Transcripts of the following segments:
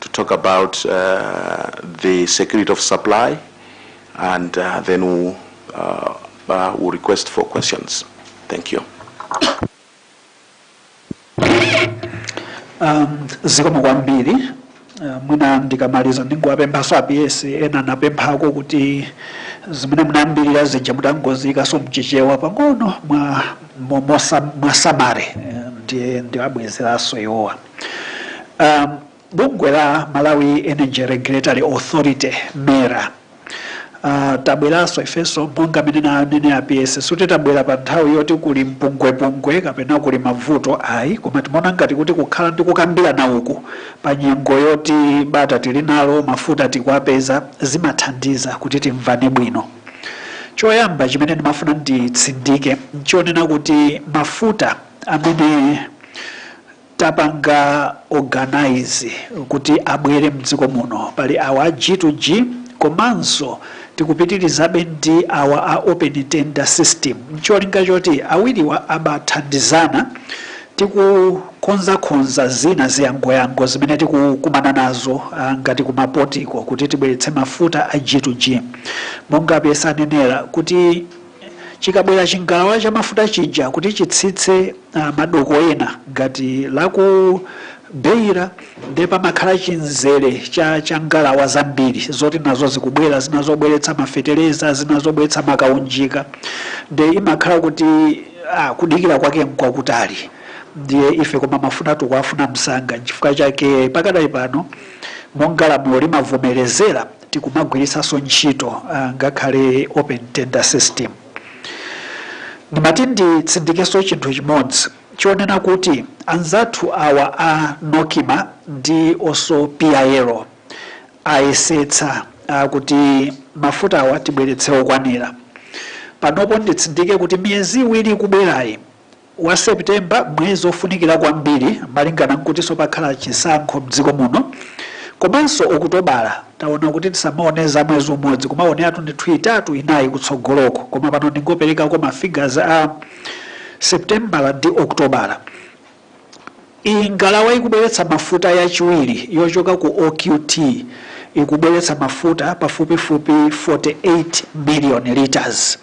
to talk about uh, the security of supply, and uh, then we'll, uh, uh, we'll request for questions. Thank you. Um, zikomo kwambiri uh, mwina ndikamaliza ndingowapemphaso aps ena anapemphako kuti zimene munayambira zija mutangozikaso mchichewa pang'ono mwa mwa- mwa summary eh, ndiye ndiwabwezeraso iwowa Um, bungwe la Malawi Energy Regulatory Authority MERA uh, tabweranso ifenso monga mmene ananena a PS suti tabwera pa nthawi yoti kuli mpungwepungwe kapena kuli mavuto ayi koma timaona ngati kuti kukhala ndi kukambirana uku pa nyengo yoti bata tili nalo mafuta tikuwapeza zimathandiza kuti timvane bwino choyamba chimene ndimafuna nditsindike nchonena kuti mafuta amene tapanga organise kuti abwere mdziko muno, pali awa a G to G komanso tikupitirizabe ndi awa a open tender system ncholinga choti awiriwa abathandizana tikukonzakonza zina ziyangoyango zimene tikukumana nazo ah, ngati kumapotiko kuti tibweretse mafuta a G to G monga a PS anenera kuti chikabwera chingalawa cha mafuta chija kuti chitsitse uh, madoko ena ngati laku Beira ndiye pamakhala chimzere cha, cha ngalawa zambiri zoti nazo zikubwera zina zobweretsa mafetereza zina zobweretsa makaunjika ndiye imakhala kuti ah, kudikira kwake mkwakutali ndiye ife koma mafuta tikuwafuna msanga nchifukwa chake pakadali pano monga lamulo limavomerezera tikumagwiritsanso ntchito ngakhale open tender system. Ndimati nditsindikenso chinthu chimodzi chonena kuti anzathu awa a Nocma ndi oso PIL ayesetsa kuti mafutawa tibweretse okwanira. Panopo nditsindike kuti miyezi iwiri ikubwerayi, wa September mwezi ofunikira kwambiri malingana nkutinso pakhala chisankho mdziko muno komanso Okutobala taona kuti tisamaone za mwezi umodzi kumaoneratu ndithu itatu inayi kutsogoloko koma pano ndingoperekako ma figures a Septembala ndi Okutobala. Ngalawa ikubweretsa mafuta yachiwiri yochoka ku OQT ikubweretsa mafuta pafupifupi 48 million litres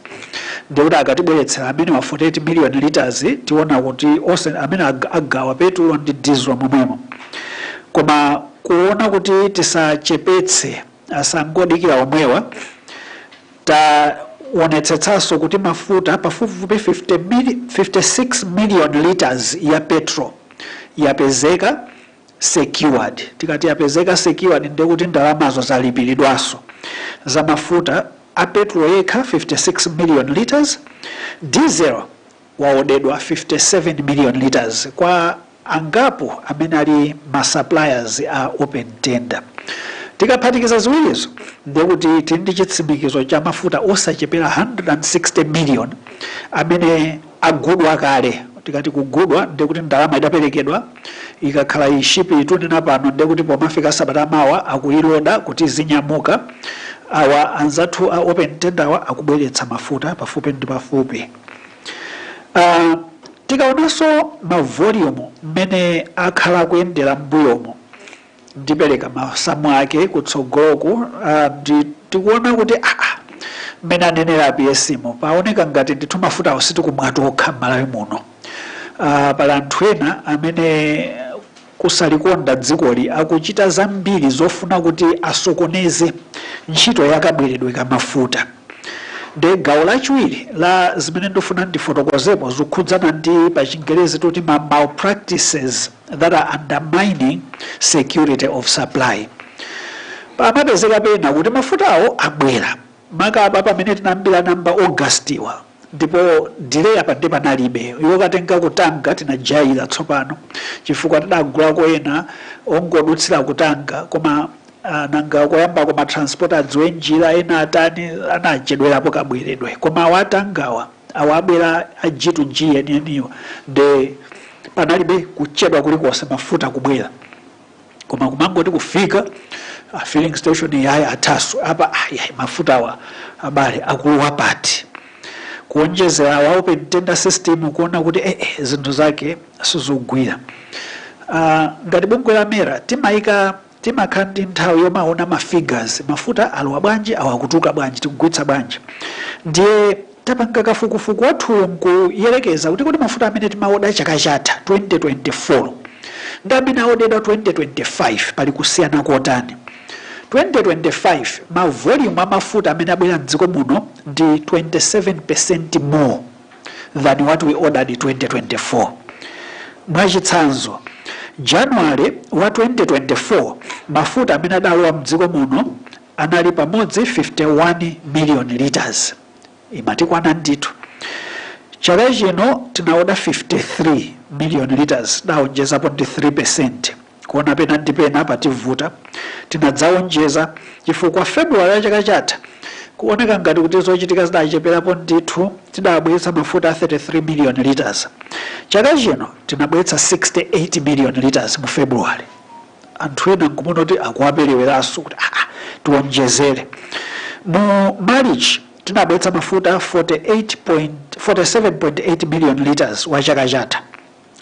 ndiye kuti akatibweretsera amenewa 48 million litres tiona kuti onse amene ag- agawa petulo ndi diesel momwemo koma kuona kuti tisachepetse asangodikira omwewa Taonetsetsanso kuti mafuta pafupifupi 56 million litres ya petrol yapezeka secured. Tikati yapezeka secured ndiye kuti ndalamazo zalipiridwanso za mafuta a petrol yekha 56 million litres, diesel waodedwa 57 million litres kwa angapo amene ali ma suppliers a open tender. Tikaphatikiza ziwirizo ndiye kuti tili ndi chitsimikizo cha mafuta osachepera 160 million amene agudwa kale. Tikati kugudwa ndiye kuti ndalama idaperekedwa, ikakhala ship iyi tunena pano ndiye kuti pomafika sabata ya mawa akuiloda kuti izinyamuka. Awa anzathu a open tender awa akubweretsa mafuta pafupi ndi pafupi. Tikaonanso ma volume mmene akhala akuyendera mmbuyomu, ndipereka masamu ake kutsogoloku, tikuona kuti aah mmene anenera a PS mo, paoneka ngati ndithu mafutawo sitikumwa tokha mmalawi muno, aah pali anthu ena amene. kusalikonda dzikoli akuchita zambiri zofuna kuti asokoneze ntchito ya kabweredwe ka mafuta. Nde gawo lachiwiri la zimene ndifuna ndifotokozepo zikukhudzana ndi pa chingerezi timati ma malpractices that are undermining security of supply. Pamapezeka pena kuti mafutawo abwera maka apa pamene tinayambira nawo mba August wa Ndipo delay apa nde panalibe yokatenga ku Tanga tinajaira tsopano chifukwa tidagulako ena ongodutsira ku Tanga koma ah, nanga koyambako ma transporter adziwe njira ena atani anachedwerapo kabweredwe koma awa a Tangawa awa abwera a G to G enieniwa nde panalibe kuchedwa kulikonse mafuta kubwera koma kumangoti kufika pa filling station yayi athaso apa ayayi mafutawa abale akulowa pati kuonjezera wa open tender system kuona kuti eh, eh, zinthu zake sizogwira Ah, ngati bungwe la MERA timaika timakhala ndi nthawi yomaona ma figures mafuta alowa bwanji awa akutuluka bwanji tikugulitsa bwanji ndiye Tapanga kafukufuku wathuyo nkuyerekeza kuti kodi mafuta amene timaoda chaka chatha, 2024, ndi amene aodedwa 2025 pali kusiyana kotani. 2025 ma volume a mafuta amene abwera m'dziko muno ndi 27% more than what we ordered 2024. Mwa chitsanzo, January wa 2024 mafuta amene adalowa m'dziko muno anali pamodzi 51 million litres imatikwana ndithu chaka chino tinaoda 53 million litres tidaonjezapo ndi 3 percent kuona pena ndi pena pativuta tinadzaonjeza chifukwa february ya chaka chatha kuoneka ngati kuti zochitika zidacheperapo ndithu tidabweretsa mafuta a 33 million litres chaka chino tinabweretsa 68 million litres mu february anthu ena nkumona kuti akuwaperewerabe kuti aa ah, ah, tiwonjezere mu march tinabweretsa mafuta 47.8 million liters wa chaka chatha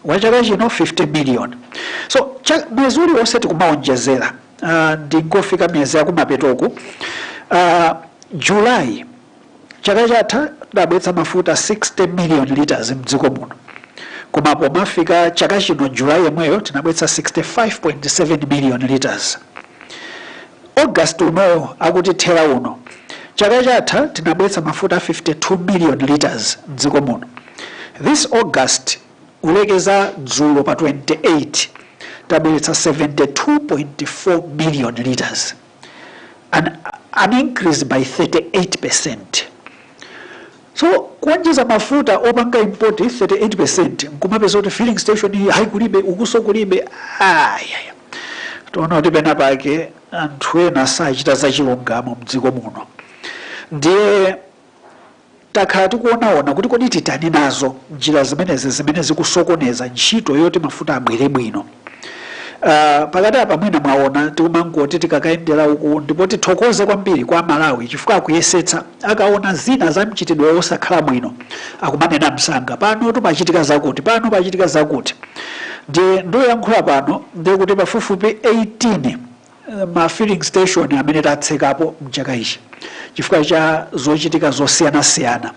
wa chaka chino 50 million so mwezi uliwonse tikumawonjezera uh, ndingofika miyezi yakumapetoku uh, july Chaka chatha tidabweretsa mafuta 60 million litres mdziko muno koma pomafika chaka chino July yemweyo tinabweretsa 65.7 million litres. August uno akutithera uno, chaka chatha tinabweretsa mafuta 52 million litres mdziko muno. This August kulekeza dzulo pa 28 tabweretsa 72.4 million litres. an, an increase by 38%. So kuonjeza mafuta opanga import 38% nkumapeza kuti filling station iyi ayi kulibe ukunso kulibe ayaya tuona kuti pena pake anthu ena sakuchita zachilungamo mdziko muno ndiye Takhala tikuonaona kuti kodi titani nazo njira zimenezi zimene zikusokoneza ntchito yoti mafuta abwere bwino. Uh, pakati apa mwina mwaona tikumangoti tikakayendera uku ndipo tithokoze kwambiri kwa aMalawi chifukwa akuyesetsa akaona zina za mchitidwe wosakhala bwino akumanena msanga pano pachitika zakuti pano pachitika zakuti ndiye ndikuyankhula pano ndikuti pafupifupi 18 ma filling station amene tatsekapo mchaka ichi chifukwa cha zochitika zosiyanasiyana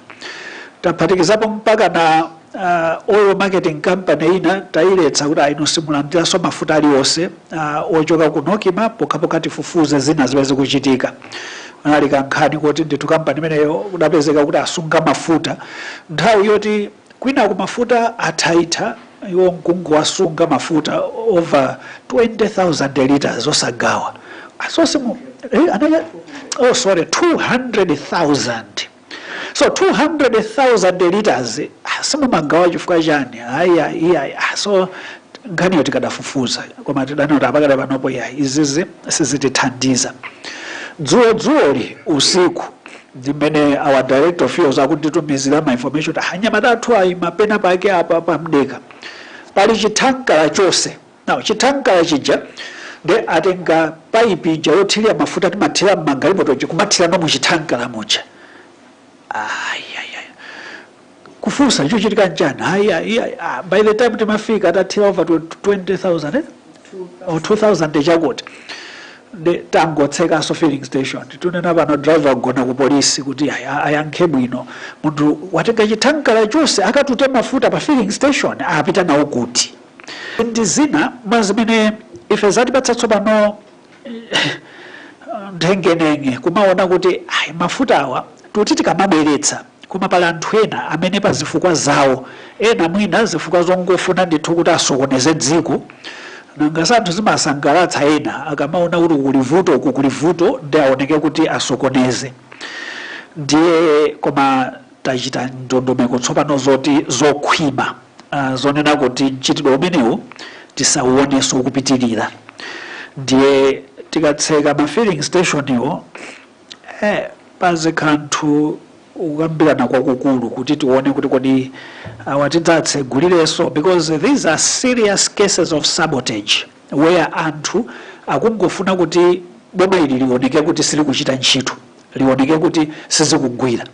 taphatikizapo mpakana uh, oil marketing company ina tayiletsa kuti a inu simulandiranso mafuta alionse uh, ochoka ku NOCMA pokhapokha tifufuze zina zimene zikuchitika panali kankhani kuti ndithu kampani imeneyo kudapezeka kuti asunga mafuta nthawi yoti Kwinaku mafuta athaatha iwo nkungowasunga mafuta over 20,000 litres osagawa. So simu, eh, anaya, oh sorry, 200,000. So 200,000 litres ah, simumagawa chifukwa chani? Ayi ayi iya. Ah, so nkhaniyo tikadafufuzabe koma tidaona kuti apa pakadali panopo iya izizi sizitithandiza. Dzulo dzuloli usiku ndimene our director of fuels akutitumizira ma information kuti anyamata athu ayima pena pake apa pamdeka pali chithankala chonse now chithankala chija nde atenga paipi ija yothirira mafuta timathira mmagalimotoji kumathirano muchithankala muja ayayaya kufunsa chochitika nchani ayi ayi ayi, ah, by the time timafika atathira over 20000 or 2000 chakuti nde tangotsekanso filling station tunena pano driver agona ku polisi kuti ayankhe bwino munthu watenga chithankala chonse akatute mafuta pa filling station apita nawo kuti ndi zina mwa zimene ife zatipatsa tsopano nthengenenge kumaona kuti ayi mafuta awa tuti tikamabweretsa Koma pali anthu ena amene pa zifukwa zawo, ena mwina zifukwa zongofuna ndithu kuti asokoneze dziko, nanga si anthu zimasangalatsa ena akamaona kuti uku kuli vuto uku kuli vuto nde aoneke kuti asokoneze. Ndiye koma tachita ndondomeko tsopano zoti zokhwima zonena kuti mchitidwe umenewu tisauonenso kupitirira. Ndiye tikatseka ma filling station wo, Eh, pazikhala kukambirana kwakukulu kuti tione kuti kodi awa tidzatsegulirenso because these are serious cases of sabotage where anthu akungofuna kuti boma ili lioneke kuti silikuchita ntchito lioneke kuti sizikugwira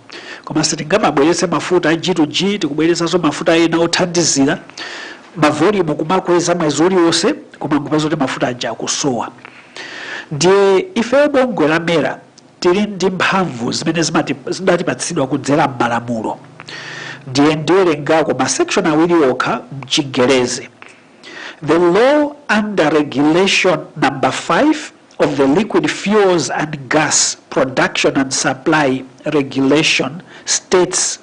koma sitingamabweretse mafuta a g2g tikubweretsanso mafuta ena othandizira mavolumu kumakweza mwezi uliwonse koma nkupeza kuti mafuta aja akusowa Ndiye ifeyo bungwe la MERA tili ndi mphamvu zimene zidatipatsidwa kudzera m'malamulo. Ndiye ndiwerengako ma section awiri okha m'Chingerezi. The law under regulation number 5 of the liquid fuels and gas production and supply regulation states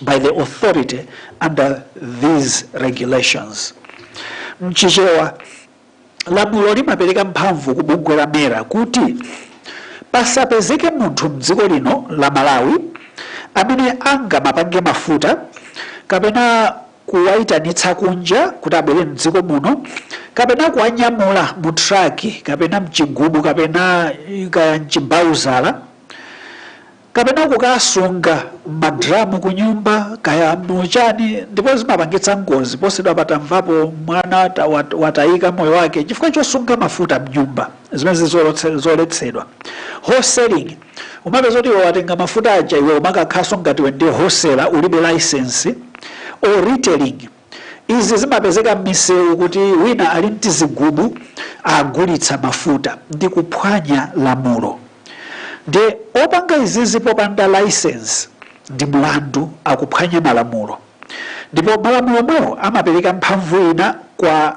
by the authority under these regulations. Mchichewa, lamulo limapereka mphamvu ku bungwe la mera kuti pasapezeke munthu mdziko lino la Malawi amene angamapange mafuta kapena kuwaitanitsa kunja kuti abwere mdziko muno kapena kuwanyamula mu traki kapena mchigubu kapena kaya mchimbauzala kapena kukasunga mmadramu kunyumba kaya mu chani ndipo zimapangitsa ngozi posachedwapa tamvapo mwana watayika moyo wake chifukwa chosunga mafuta mnyumba zimene zili zoletsedwa wholesaling umapeza kuti iwe watenga mafuta aja iwe umakakhalanso ngati iwe ndi wholesaler ulibe license or retailing Izi zimapezeka m'misewu kuti wina ali m'tizigubu agulitsa mafuta ndi kuphwanya lamulo. Ndiye opanga izizi popanda laisensi ndi mlandu, akuphwanya malamulo. Ndipo malamulo omwewo amapereka mphamvu ina kwa.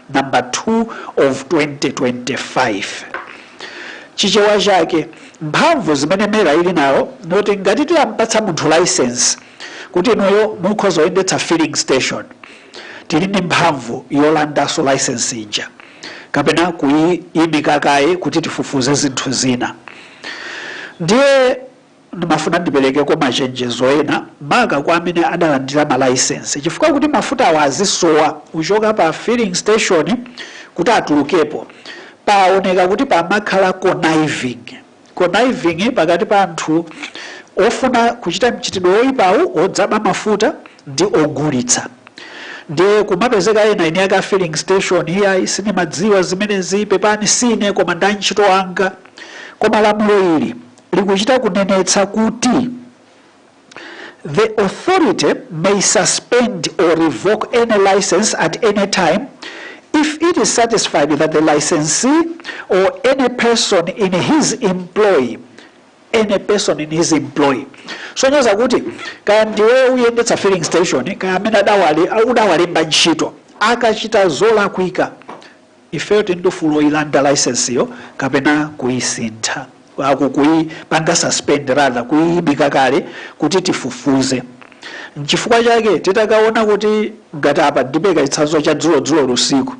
number 2 of 2025 chichewa chake mphamvu zimene mera ili nayo noti ngati tilampatsa munthu license kuti inuyo mukhoza kuyendetsa filling station tili ndi mphamvu yolandaso license ija kapena kuyimika kaye kuti tifufuze zinthu zina ndiye Ndimafuna ndiperekeko machenjezo ena maka kwa amene adalandira ma licence chifukwa kuti mafutawa azisowa kuchoka pa filling station kuti atulukepo paoneka kuti pamakhala conniving, conniving, pakati pa anthu ofuna kuchita mchitidwe oipawu odzaba mafuta ndi ogulitsa. Ndiye kumapezeka ena eni ake a filling station iyayi sindimadziwa zimenezi pepani si ine koma ndi antchito anga koma lamulo ili. likuchita kunenetsa kuti the authority may suspend or revoke any license at any time if it is satisfied that the licensee or any person in his employ any person in his employ kusonyeza kuti kaya ndiwe uyendetsa filling station kaya amene udawalemba ntchito akachita zolakwika Ifeyo tili ndi ufulu woilanda licence yo kapena kuisintha, kuipanga suspend rather, kuiimika kaye kuti tifufuze. Nchifukwa chake titakaona kuti ngati apa ndipereka chitsanzo cha dzulo dzuloli usiku,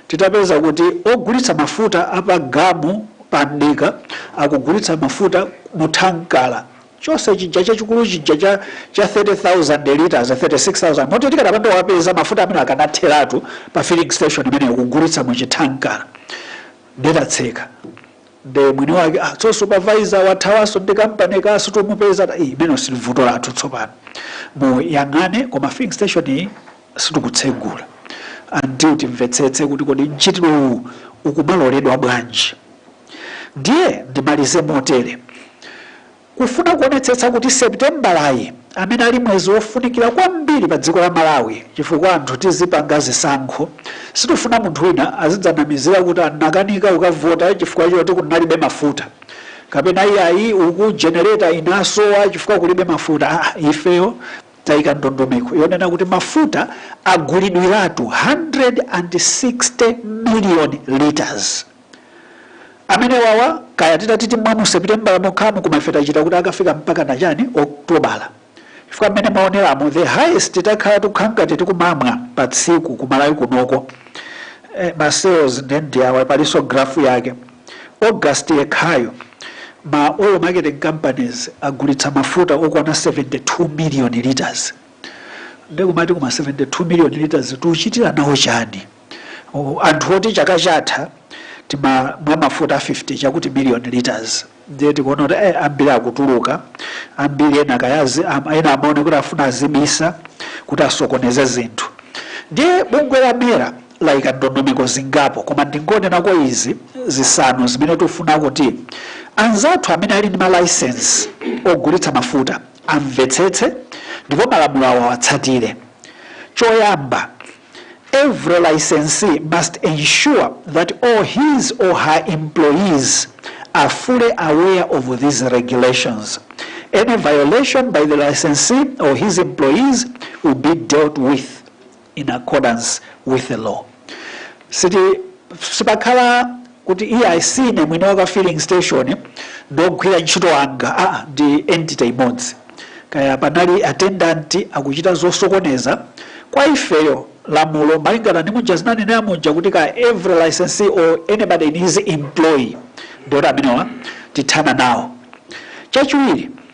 titapeza kuti ogulitsa mafuta a pa gamu pa mdika akugulitsa mafuta mu thankara, chonse chija chachikulu chija cha cha 30000 litres 36000 moti tikadapanda kuwapeza mafuta amene akanatheratu pa filling station imeneyo kugulitsa mu chithankara nde tatseka nde mwini wake ah, so supervisor wathawanso ndi kampani kaso tomupeza ta- Ih, imeneyo si vuto lathu tsopano mumuyang'ane koma filling station iyi sitikutsegula until timvetsetse kuti kodi mchitidwe uwu ukumaloledwa bwanji. Ndiye ndimalize motere, kufuna kuonetsetsa kuti Sepitembalayi amene ali mwezi wofunikira kwambiri pa dziko la Malawi chifukwa anthu tizipanga zisankho, sitifuna munthu wina azidzanamizira kuti anakanika kukavota chifukwa choti kunalibe mafuta kapena iyayi uku generator inasowa chifukwa kulibe mafuta. Ah, ifeyo taika ndondomeko yonena kuti mafuta agulidwiratu 160 million litres amenewawa kaya titati timwe mu sepitembala mokhamu koma ife tachita kuti akafika mpaka na chani oktobala chifukwa mmene mwaoneramo the highest titakhala tikukhala ngati tikumamwa pa tsiku kumalawi kunoko eh, masales nde ndi awa palinso grafu yake August yekhayo, ma oil marketing companies agulitsa mafuta okwana 72 million litres. Nde nkumati koma 72 million litres tuchitira nawo chani? O, Anthu oti chaka chatha timamwa mafuta 50 chakuti million litres ndiye tikuona kuti eh, ambiri akutuluka ambiri ena kayazi am- ena amaone kuti afuna azibisa kuti asokoneze zinthu ndiye bungwe la mera laika ndondomeko zingapo koma ndingonenako izi zisanu zimene tufuna kuti anzathu amene ali ndi malaisensi ogulitsa mafuta amvetsetse ndipo malamulowo awatsatire choyamba every licensee must ensure that all his or her employees are fully aware of these regulations. Any violation by the licensee or his employees will be dealt with in accordance with the law siti sipakhala kuti iye ayi si ine mwini wake filling station ndi ogwira ntchito anga a ah, ndi entity imodzi kaya panali attendant akuchita zosokoneza kwa ifeyo lamulo malingana ndi muja ndinanenera muja kuti ka every licensee or anybody in his employ ndi woti amenewa tithana nawo chachiwiri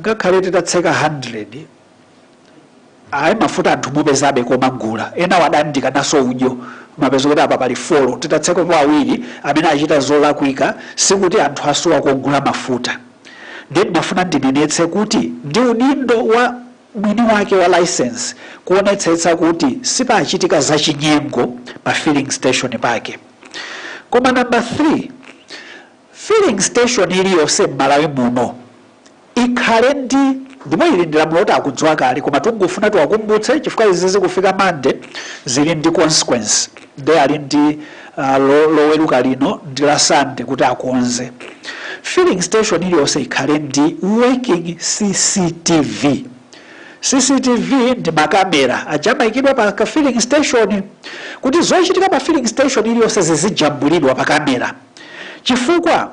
ngakhale titatseka 100 ayi mafuta anthu mupezabe kokagula ena wa adandikana osawudyo mapeza kuti apa pali folo titatsekapo awiri amene achita zolakwika sikuti anthu asowa kogula mafuta ndiye ndimafuna ndinenetse kuti ndi udindo wa mwini wake wa license kuonetsetsa kuti sipachitika zachinyengo pa filling station pake koma nambala 3 Filling station iliyonse mmalawi muno ikhale ndi ndipo ili ndi lamulo loti akudziwa kale koma tikungofuna tiwakumbutse chifukwa izi zikufika monday zili ndi consequence nde ali ndi uh, lo, loweruka lino ndi la sunday kuti akonze filling station iliyonse ikhale ndi working cctv cctv ndi makamera aja amayikidwa pa ka filling station kuti zochitika pa filling station iliyonse zizijambulidwa pa kamera Chifukwa,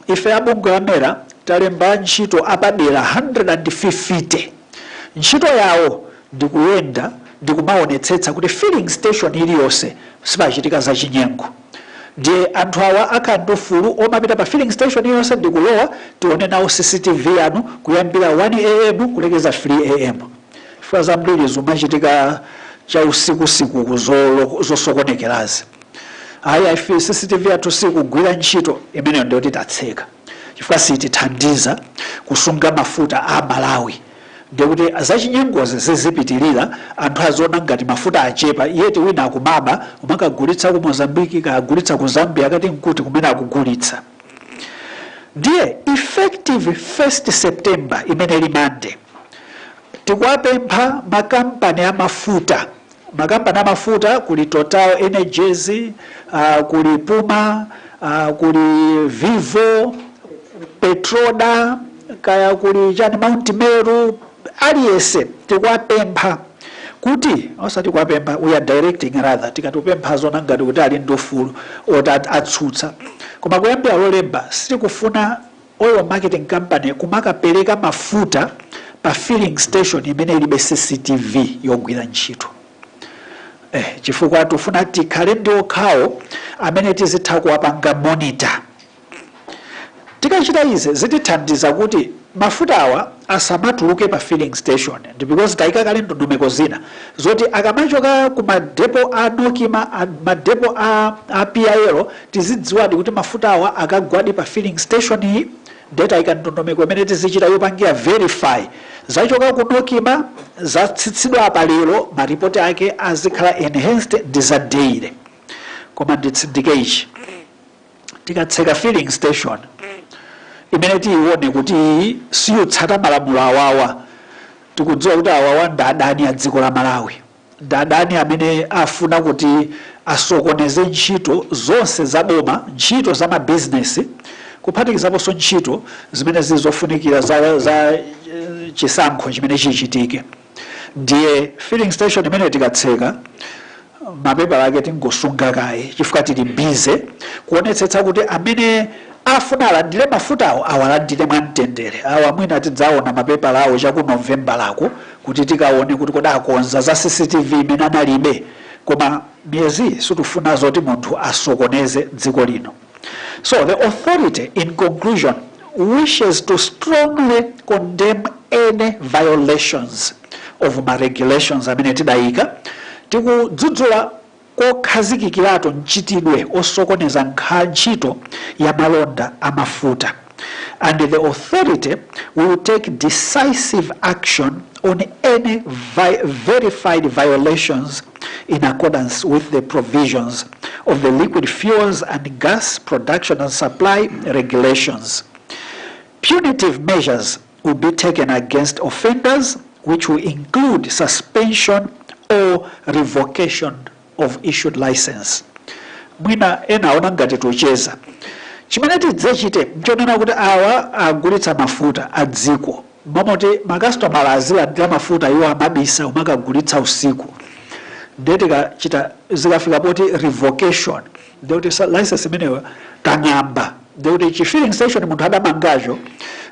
ife a bungwe la MERA talemba antchito apadera 150. Ntchito yawo ndi kuyenda ndi kumaonetsetsa kuti filling station iliyonse sipachitika zachinyengo. Ndiye anthu awa akhala ndi ufulu omapita pa filling station iliyonse ndi kulowa, tione nawo CCTV yanu kuyambira 1AM kulekeza 3AM. Chifukwa zambiri zimachitika chausikusiku uku zosokonekerazi. ayi ife cctv yathu sikugwira ntchito imeneyo ndiyo titatseka chifukwa sitithandiza kusunga mafuta a malawi ndiye kuti zachinyengozi zizipitirira anthu aziona ngati mafuta achepa yeti wina akumaba kumakagulitsa ku mozambiki kagulitsa ku zambia kaya nkuti kumene akugulitsa ndiye effective 1st september imene ili mande tikuwapempha makampani a mafuta makampani amafuta kuli total energies uh, kuli puma uh, kuli vivo petroda kaya kuli chani mount meru aliyense tikuwapempha kuti osati kuwapempha we are directing rather tikati tupempha aziona ngati kuti ali ndi ufulu ot- at- atsutsa koma kuyambira lolemba sitikufuna oil marketing company kumakapereka mafuta pa filling station imene ilibe cctv yogwira ntchito eh, chifukwa tufuna tikhale ndi okhawo amene tizitha kuwapanga monitor tikachita izi zitithandiza kuti mafuta awa asamatuluke pa filling station ndi because tayika kale ndondomeko zina zoti akamachoka ku madepo a nocma a- madepo a, a pil Tizidziwadi kuti mafutawa akagwadi pa filling station iyi ndiye taika ndondomeko imene tizichita yopangira verify zachoka ku Nocma zatsitsidwa apa lero ma report ake azikhala enhanced ndi za daily koma nditsindike ichi tikatseka filling station imene tiyione kuti siyutsata malamulo awawa tikudziwa kuti awawa ndi adani a dziko la Malawi Ndi adani amene afuna kuti asokoneze ntchito zonse za boma, ntchito za mabizinesi, kuphatikizaponso ntchito zimene zili zofunikira za za chisankho chimene chichitike. Ndiye filling station imene tikatseka, mapepala ake tingosunga kaye chifukwa tili busy kuonetsetsa kuti amene afuna alandire mafutawo awalandire mwamtendere. Awa mwina tidzaona mapepala awo cha ku Novembala uko. kuti tikaone kuti kodi akonza za cctv imene analibe koma miyezi situfuna zoti munthu asokoneze dziko lino so the authority in conclusion wishes to strongly condemn any violations of ma regulations amene tidayika tikudzudzula kokhazikikirako mchitidwe osokoneza nkha ntchito ya malonda a mafuta and the authority will take decisive action on any vi verified violations in accordance with the provisions of the liquid fuels and gas production and supply regulations punitive measures will be taken against offenders, which will include suspension or revocation of issued license. Mwina ena aona ngati tikucheza. Chimene tidzachite nchonena kuti awa agulitsa mafuta a dziko. Mmalo moti makasitomala azilandira mafuta iwo amabisa kumakagulitsa usiku. Nde tikachita zikafika poti revocation. ndiye kuti sa- license imeneyo tang'amba ndiye kuti chi filling station munthu adamangacho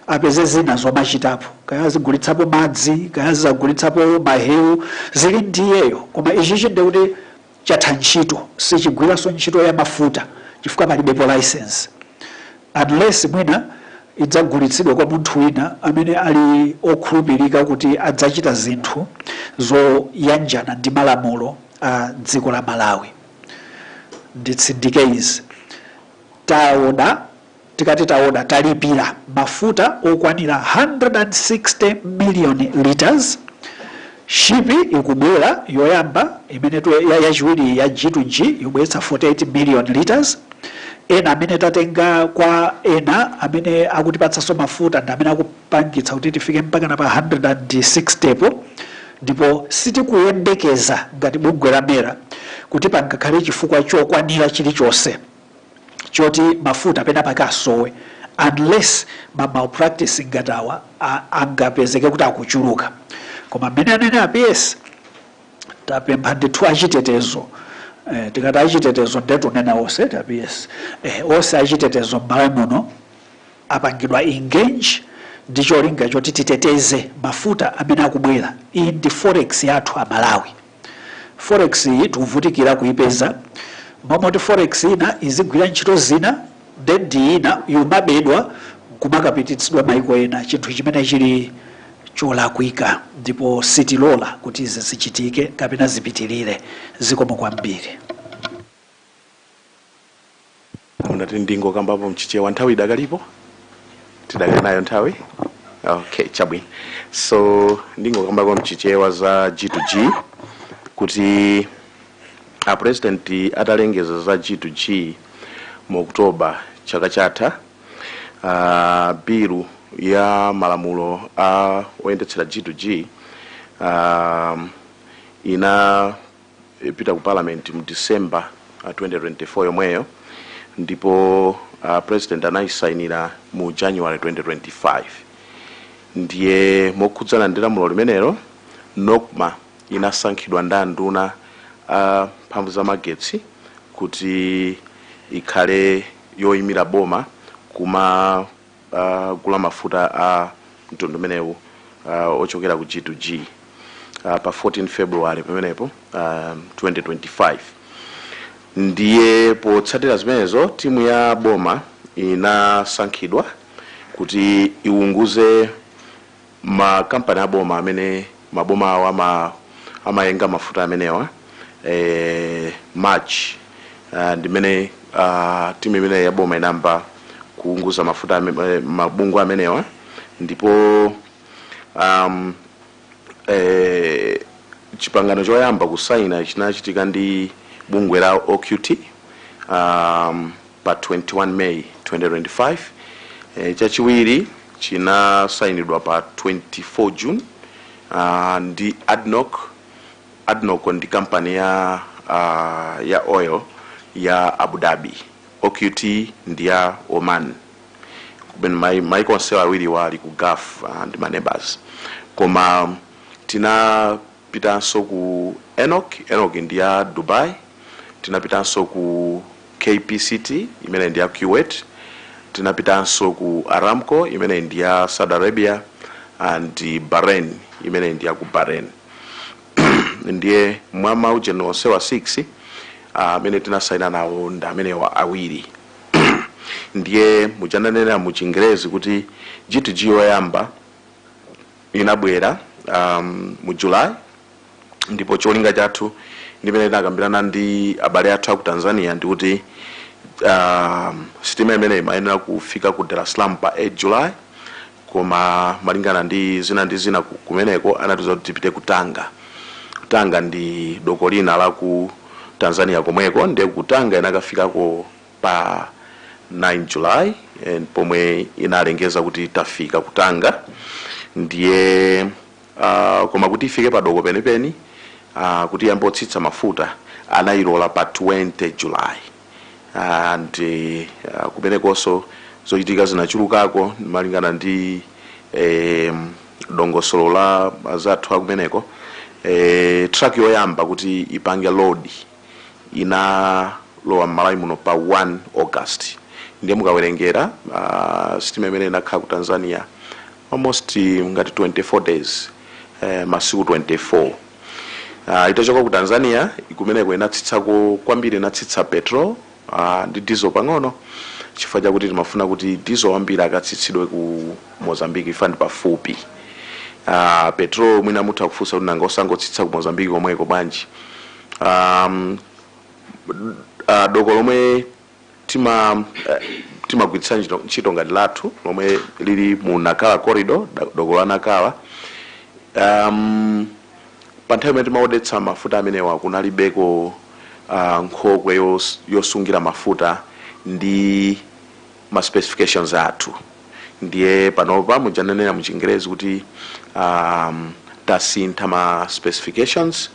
apeze zina zomachitapo kaya azigulitsapo madzi kaya azizagulitsapo mahewu zili ndi iyeyo koma ichichi ndiye kuti chatha ntchito sichigwiranso ntchito ya mafuta chifukwa palibepo license unless mwina idzagulitsidwa kwa munthu wina amene ali okhulupirika kuti adzachita zinthu zoyanjana ndi malamulo a dziko la malawi nditsindike izi taoda tikati taoda talipira mafuta okwanira 160 million liters shipi ikubwera yoyamba imene tu- ya- yachiwiri ya g2g yobweretsa 48 million liters ena amene tatenga kwa ena amene akutipatsanso mafuta ndi amene aku- pangitsa kuti tifike mpakana pa 160 po ndipo sitikuyembekeza ngati bungwe la mera kuti pangakhale chifukwa chokwanira chilichonse choti mafuta penapake asowe unless ma malpractice ngati awa a- angapezeke kuti akuchuluka koma mmene anenera a ps tapempha ndithu achitetezo eh, tikati achitetezo nde tikunena onse a ps eh, onse achitetezo m'malawi muno apangidwa engage ndi cholinga choti titeteze mafuta amene akubwera. Iyi ndi forex yathu a Malawi. Forex iyi tikuvutikira kuipeza. Mmalo moti forex ina izigwira ntchito zina then ndi ina yomabedwa kumakapititsidwa maiko ena, chinthu chimene chili cholakwika ndipo sitilola kuti izi zichitike kapena zipitirire. Zikomo kwambiri. munati ndingokambapo mchichewa nthawi idakalipo tidakali nayo nthawi okay chabwino so ndingokambapo mchichewa za g to g kuti a president atalengeza za g to g mu oktoba chaka chatha uh, bilu ya malamulo a oyendetsera g to g um, ina ipita ku parliament mu December uh, 2024 yomweyo ndipo uh, president anayisainira mu January 2025 ndiye mokhudzana ndi lamulo limenelo NOCMA inasankhidwa ndi anduna a mphamvu za magetsi kuti ikhale yoyimira boma kuma gula mafuta a mtundu umenewu uh, ochokera ku G2G uh, pa 14 February pamenepo uh, 2025 ndiye potsatira zimenezo timu ya boma inasankhidwa kuti iwunguze makampani aboma amene maboma awa ama amayenga mafuta amenewa eh, march uh, ndimene uh, timu imene yaboma inayamba kuunguza mafuta ame- eh, mabungwe amenewa ndipo um, eh, chipangano choyamba kusaina chinachitika ndi bungwe la oqt um, Pa 21 May 2025, chachiwiri chinasainidwa pa 24 June ndi Adnoc, Adnoc ndi kampani ya ya oil ya Abu Dhabi, OQT ndi ya Oman, maiko onse awiriwa ali ku Gulf ndi ma neighbours koma tina. Tinapitanso ku ENOC, ENOC ndi ya Dubai, tinapitanso ku KPCT imene ndi ya Kuwait, tinapitanso ku Aramco imene ndi ya Saudi Arabia and Bahrain imene ndi ya ku Bahrain. Ndiye mwa maujeni onsewa 6 amene uh, tinasaina nawo ndi amenewa awiri ndiye muja ndanenera mu chingerezi kuti G2G yoyamba Inabwera um, mu July ndipo cholinga chathu ndimene tinakambirana ndi abale athu aku Tanzania ndikuti um, sitima imene imayenera kufika ku Dar es Salaam pa 8 July koma malingana ndi zina ndi zina ku- kumeneko anatiuza kuti tipite ku Tanga Tanga ndi doko lina la ku Tanzania komweko ndiye ku Tanga inakafikako pa 9 July and pomwe inalengeza kuti tafika ku Tanga ndiye uh, koma kuti ifike padoko penipeni uh, kuti iyambe kutsitsa mafuta anayilola pa 20 July and uh, kumenekonso zochitika zinachulukako malingana ndi eh, dongosolo la azathu akumeneko eh, truck yoyamba kuti ipange load inalowa m'malawi muno pa 1 august ndiye mukawerengera uh, sitima imene inakhala ku tanzania almost eh, ngati 24 days eh, masiku 24 uh, itachoka ku tanzania kumeneko inatsitsako kwambiri inatsitsa petrol Aaa ndi diesel pang'ono chifukwa chakuti timafuna kuti diesel wambiri akatsitsidwe ku Mozambique chifukwa ndi pafupi. Aaa petrol mwina mutha kufunsa kuti nanga osangotsitsa ku Mozambique komweko bwanji? Aaa aah doko lomwe tima timagwiritsa ntchito ntchito ngati lathu lomwe lili mu Nacala corridor doko la Nacala aah pa nthawi imene timaodetsa mafuta amenewa kunalibeko ah, nkhokwe yos- yosungira mafuta ndi ma specifications athu ndiye panopa mujanenera mu chingerezi kuti um, tasintha ma specifications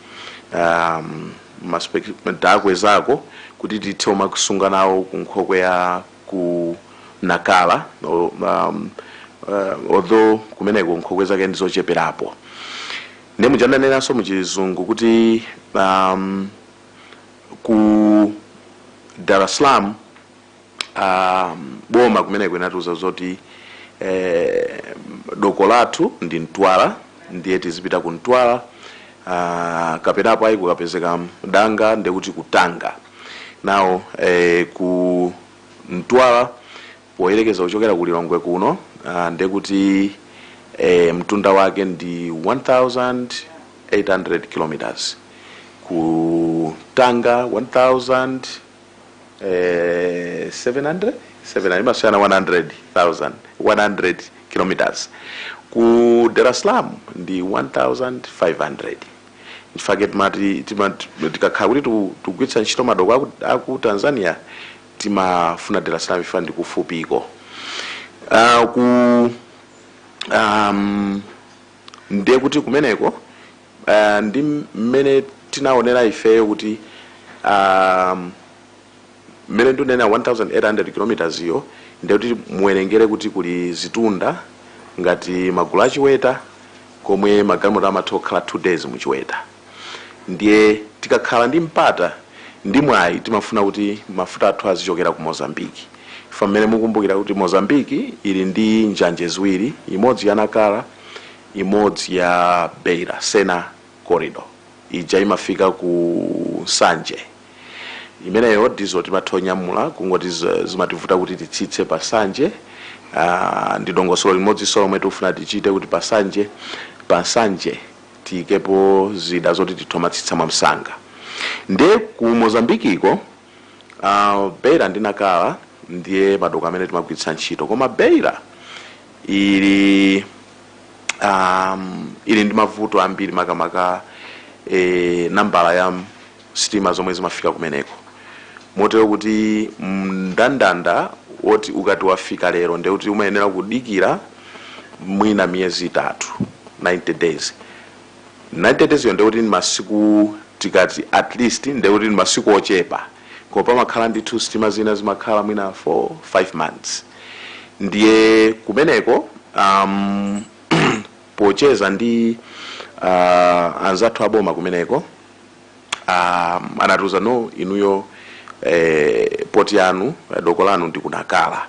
um, ma spec- takwezako kuti tithe umakusunga nawo ku nkhokwe ya ku nakala o- um, uh, although kumeneko nkhokwe zake ndizocheperapo Ndiye muja ndanenanso mu chizungu kuti um, ku Dar es Salaam um, boma kumeneko linatiuza zoti eh, doko lathu ndi Mtwara ndiye tizipita ku Mtwara uh, kapenapo ayi kukapezeka danga ndekuti ku Tanga now eh, ku Mtwara Poyerekeza kuchokera ku Lilongwe kuno ndekuti mtunda wake ndi 1800 km, ku Tanga 1700 imasiyana 100 km, ku Dar es Salaam ndi 1500. Nchifukwa chake tikakhala kuti tikugwiritsa ntchito madoko aku Tanzania timafuna Dar es Salaam chifukwa ndi kufupiko Ah, ku um, ndiye kuti kumeneko ah, ndi mmene tinaonera ifeyo kuti um, mmene ndinena 1800 kilometers iyo ndiye kuti muwerengere kuti kuli zitunda ngati magulu a Chiweta komwe magalimoto amatha kukhala 2 days mu Chiweta ndiye tikakhala ndi mpata ndi mwayi timafuna kuti mafuta athu azichokera ku mozambique ifa mmene mukumbukira kuti mozambique ili ndi njanje ziwiri imodzi ya nakala imodzi ya beira sena corridor ija imafika ku nsanje imeneyo ndizo timathonyamula kungoti z- zimativuta kuti titsitse pa nsanje uh, ndi dongosolo limodzinso lomwe tikufuna tichite kuti pa nsanje pa nsanje tiyikepo zida zoti tithomatsitsa mwamsanga ndiye ku Mozambikiko uh, beira ndi nakala ndiye madoko amene timagwiritsa ntchito koma beira ili um, ili ndi mavuto ambiri makamaka eh, nambala ya sitima zomwe zimafika kumeneko motero kuti mndandanda woti ukati wafika lero nde kuti umayenera kudikira mwina miyezi itatu 90 days 90 days yo nde kuti ni masiku tikati at least nde kuti ni masiku ochepa koma pamakhala ndithu sitima zina zimakhala mwina 4 5 months ndiye kumeneko um, pocheza ndi uh, anzathu aboma kumeneko Ah, anatiuza no inuyo eh, poti yanu eh, doko lanu ndi ku nakala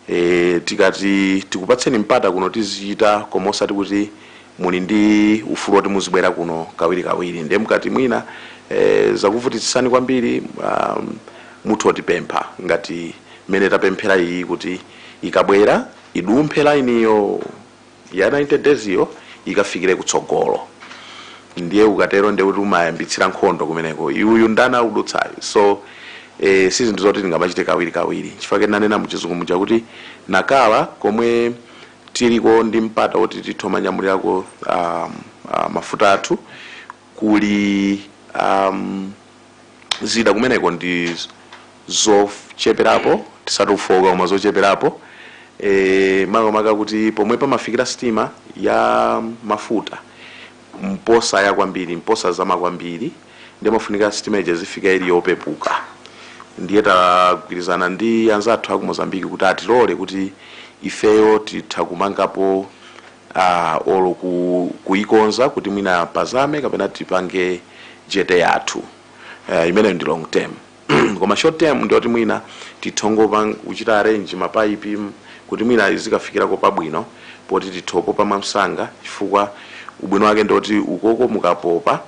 eh, tikati tikupatseni mpata kuno tizichita koma osati kuti muli ndi ufulu woti muzibwera kuno kawiri kawiri ndiye mukati mwina eh, zakuvutitsani kwambiri um, mutho otipempha ngati mmene tapemphera iyi kuti ikabwera idumphe lainiyo ya 90 days yo ikafikire kutsogolo ndiye ukatero ndiye kuti umayambitsira nkhondo kumeneko uyu ndani akudutsayo so eh, si zinthu zoti tingamachite kawiri kawiri nchifukwa chake ndinanena muchizungu muja kuti nakala komwe tiliko ndi mpata woti titho manyamulirako um, uh, mafuta athu kuli um, zida kumeneko ndi zocheperapo tisati zofooka koma zocheperapo e, makamaka kuti pomwe pamafikira sitima ya mafuta mposaya kwambiri mposazama kwambiri ndiye imafunika sitima ija izifika ili yopepuka ndiye tagwirizana ndi anzathu aku mozambiki kuti atilole kuti ifeyo titha kumangapo uh, or ku, kuikonza kuti mwina pazame kapena tipange jete yathu uh, imeneyo ndi long term koma short term ndioti mwina tithongopa kuchita arrange mapaipi kuti mwina izikafikirako pabwino poti tithopopa mwamsanga chifukwa ubwino wake ndioti ukoko mukapopa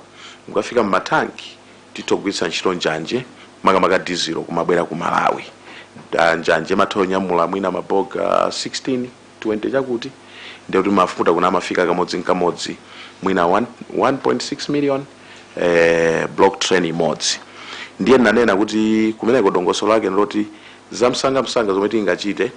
mukafika mmatanki tithogwiritsa ntchito njanje makamaka dizilo kumabwera ku malawi Ah, njanje imatha kunyamula mwina mabogi 16 20 chakuti ndiye kuti mafuta kuno amafika kamodzi nkamodzi mwina 1 1.6 million eh, block train imodzi ndiye nanena kuti kumeneko dongosolo lake ndiloti zamsangamsanga zomwe tingachite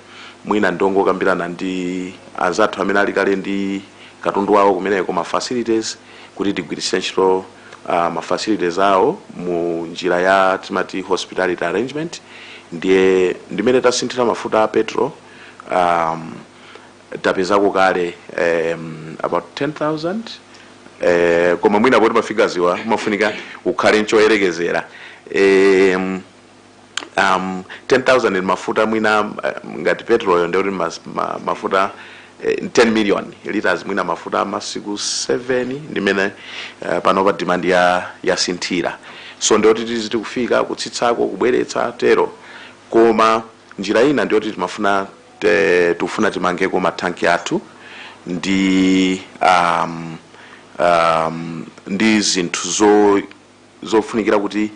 mwina ndiyongokambirana ndi anzathu amene ali kale ndi katundu wawo kumeneko ma facilities kuti tigwiritse ntchito uh, ma facilities awo mu njira ya timati hospitality arrangement ndiye ndimene tasinthira mafuta a petro um, tapezako kale um, about 10000 eh, koma mwina poti mafigaziwa mafunika ukhale nchoyerekezera um, um, 10000 ni mafuta mwina um, ngati petrol ndikuti mas- ma, mafuta eh, 10 million liters mwina mafuta masiku 7 ndimene uh, panopa demand yasinthira so ndikuti tizi tikufika kutsitsako kubweretsa tero koma Njira ina ndiyoti timafuna tikufuna timangeko ma thanki athu ndi um, um, ndi zinthu zo zofunikira kuti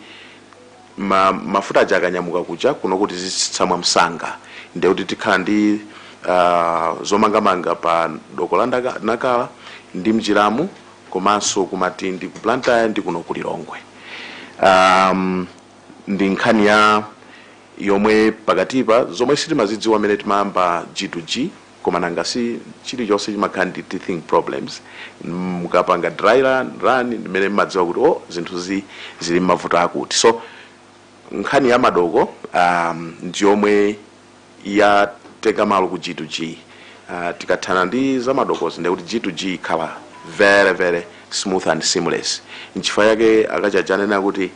ma, mafuta aja akanyamuka kuja kuno kutizitsitsa mwamsanga ndiye kuti tikhala ndi uh, zomangamanga pa doko la ndaka- nakala ndi mnjiramu komanso ku matindi ku blantyre ndi kuno ku lilongwe um, ndi nkhani ya yomwe pakatipa zomwe sitimazidziwa mmene timayamba G to G koma nanga si chilichonse chimakhala ndi teething problems mukapanga dry run, ndi mmene mmadziwa kuti oh zinthuzi zili nmavuto akuti so nkhani ya madoko um, ndi yomwe yatenga malo ku G to G uh, tikathana ndi za madokozi ndekuti G to G ikhala very very smooth and seamless nchifukwa yake akachajanena kuti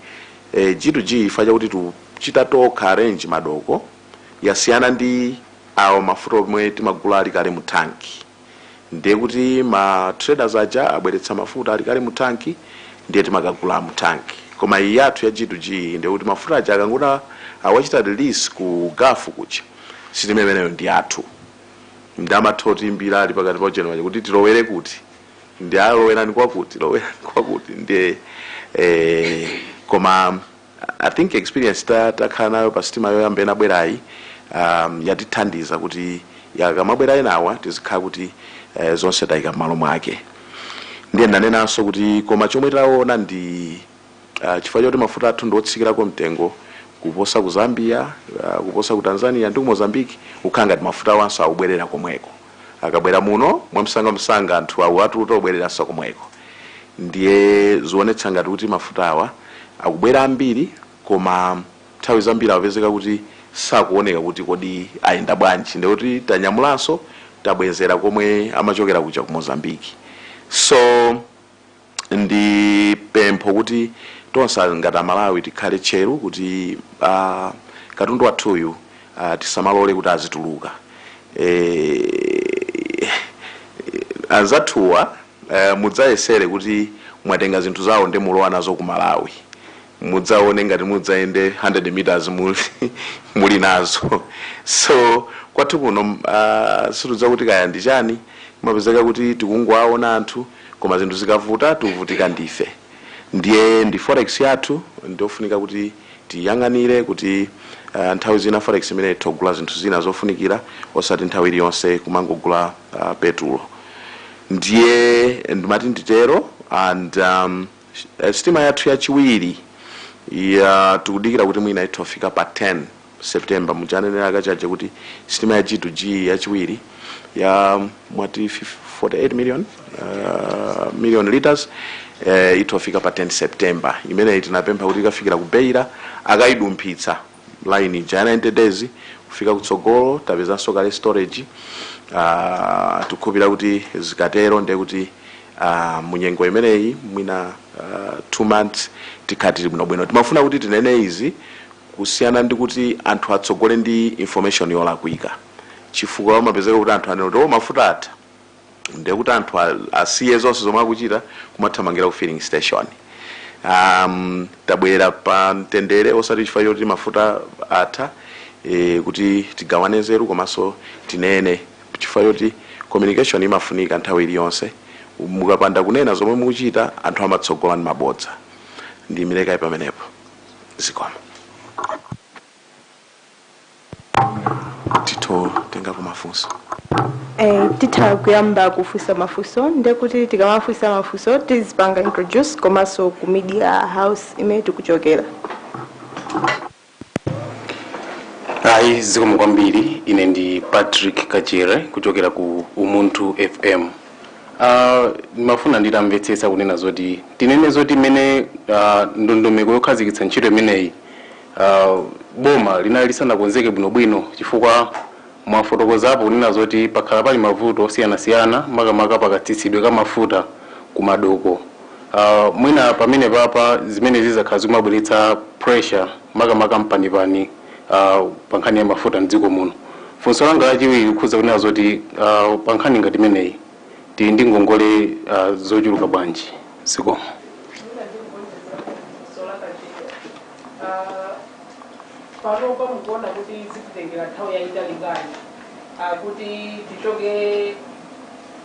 e G to G chifukwa chakuti tikuchita tokha arrange madoko yasiyana ndi awa mafuta omwe timagula ali kale mu tank ndiye kuti ma traders aja abweretsa mafuta ali kale mu tank ndiye timakagula mu tank koma iyi yathu ya G to G ndiye kuti mafuta aja akangoti awachita release ku gulf kuja sitima imeneyo ndi yathu nde amatha kutiimbira ali pakati pa ujeni paja kuti tilowere kuti nde ah lowerani kwakuti lowerani kwakuti ndiye eh, koma i think experience ta- takhala nayo pa sitima yoyamba inabwerayi um, yatithandiza kuti akamabwera enawa tizikhala kuti eh, zonse tayika m'malo mwake ndiye ndanenanso kuti koma chomwe taona ndi uh, chifukwa choti mafuta athu ndiotsikirako mtengo kuposa ku zambia uh, kuposa ku tanzania ndi ku mozambique kukhala ngati mafuta awanso akubwerera komweko akabwera muno mwamsangamsanga anthu akuwatuta kubwereranso komweko ndiye zionetsa ngati kuti mafutawa akubwera ambiri koma nthawi zambiri apezeka kuti sakuoneka kuti kodi ayenda bwanji ndiye kuti tanyamulanso tabwezera komwe amachokera kuja ku mozambiki so ndi pempho kuti tonse ngati amalawi tikhale tcheru kuti a katundu wathuyu a tisamalole kuti azituluka e, anzathuwa e, mudzayesere kuti mwatenga zinthu zawo ndi mulowa nazo ku malawi mudzaone ngati mudzayende 100 meters muli, muli nazo so kwathu kuno uh, sindidziwa kuti kaya ndi chani kumapezeka kuti tikungowaona anthu koma zinthu zikavuta tikuvutika ndife ndiye ndi forex yathu ndiofunika kuti tiyang'anire kuti uh, nthawi zina forex imene itha kugula zinthu zina zofunikira osati nthawi iliyonse kumangogula uh, petulo ndiye ndimati nditero and um, sitima yathu yachiwiri ya tikudikira kuti mwina itha kufika pa 10 September muja ananena a Kachaje kuti sitima ya G2G yachiwiri ya mwati 48 million uh, million liters eh, itha kufika pa 10 September imeneyi tinapempha kuti ikafikira ku Beira akayidumphitsa line ija ya 90 days kufika kutsogolo tapezanso kale storage uh, tikukhulupira kuti zikatero ndiye kuti uh, munyengo imeneyi mwina uh, two months tikhala tili bwinobwino timafuna kuti tinene izi kusiyana ndi kuti anthu atsogole ndi information yolakwika chifukwa kumapezeka kuti anthu anena kuti oh mafuta atha ndiye kuti anthu a- asiye zonse zomwe akuchita kumathamangira ku filling station um, tabwera pa mtendere osati chifukwa choti mafuta atha e, kuti tigawane nzeru komanso tinene chifukwa choti communication imafunika nthawi iliyonse mukapanda kunena zomwe mukuchita anthu amatsogola ndi mabodza ndilekera pamenepo zikomo titha kutengako mafunso Eh, titha kuyamba kufunsa mafunso ndekuti tikamafunsa mafunso tizipanga introduce komanso ku media house imene tikuchokera ayi zikomo kwambiri ine ndi patrick kachere kuchokera ku umunthu fm Uh, ndimafuna nditamvetsetsa kunena zoti tinene zoti mmene uh, ndondomeko yokhazikitsa ntchito imeneyi uh, boma linali lisanakonzeke bwinobwino chifukwa mwafotokozapo kunena zoti pakhala pali mavuto osiyanasiyana makamaka pakatsitsidwe ka mafuta ku madoko uh, mwina pamene papa zimene zakhala zikumabweretsa pressure makamaka mpanipani uh, pa nkhani ya mafuta mdziko muno funso langa lachiwiri likukhudza kunena zoti uh, pa nkhani ngati imeneyi tili ndi ngongole uh, zochuluka bwanji zikomo panopa mukuona kuti zititengera nthawi yayitali bwanji kuti tichoke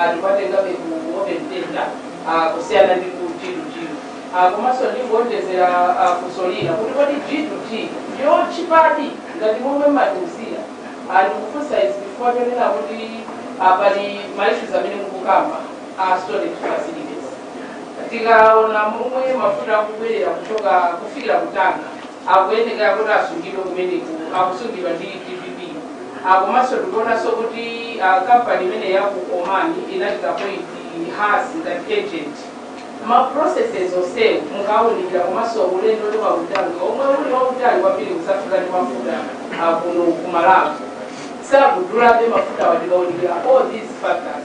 anthu tikuwatengabe ku Open Tender ah, kusiyana ndi ku G2G Ah, komanso ndingowonjezera ah, funso lina kuti kodi G2G ndiyotchipadi ngati momwe matiuzira Ah, ndikufunsa izi chifukwa chonena kuti ah, pali maissues amene mukukamba a storage facilities tikaona momwe mafuta akubwerera kuchoka kufikira ku Tanga akuyenekera kuti asungidwe kumeneku akusungidwa ndi TPDC Ah, komanso tikuonanso kuti ah, kampani imene ya ku Oman inachita appoint Hass ngati agent ma processes onsewo mukawunikira komanso ulendo ndi wautali omwe uli wautali kwambiri kusafika ndi mafuta ah, kuno ku Malawi sakudulabe mafuta wa tikawunikira all these factors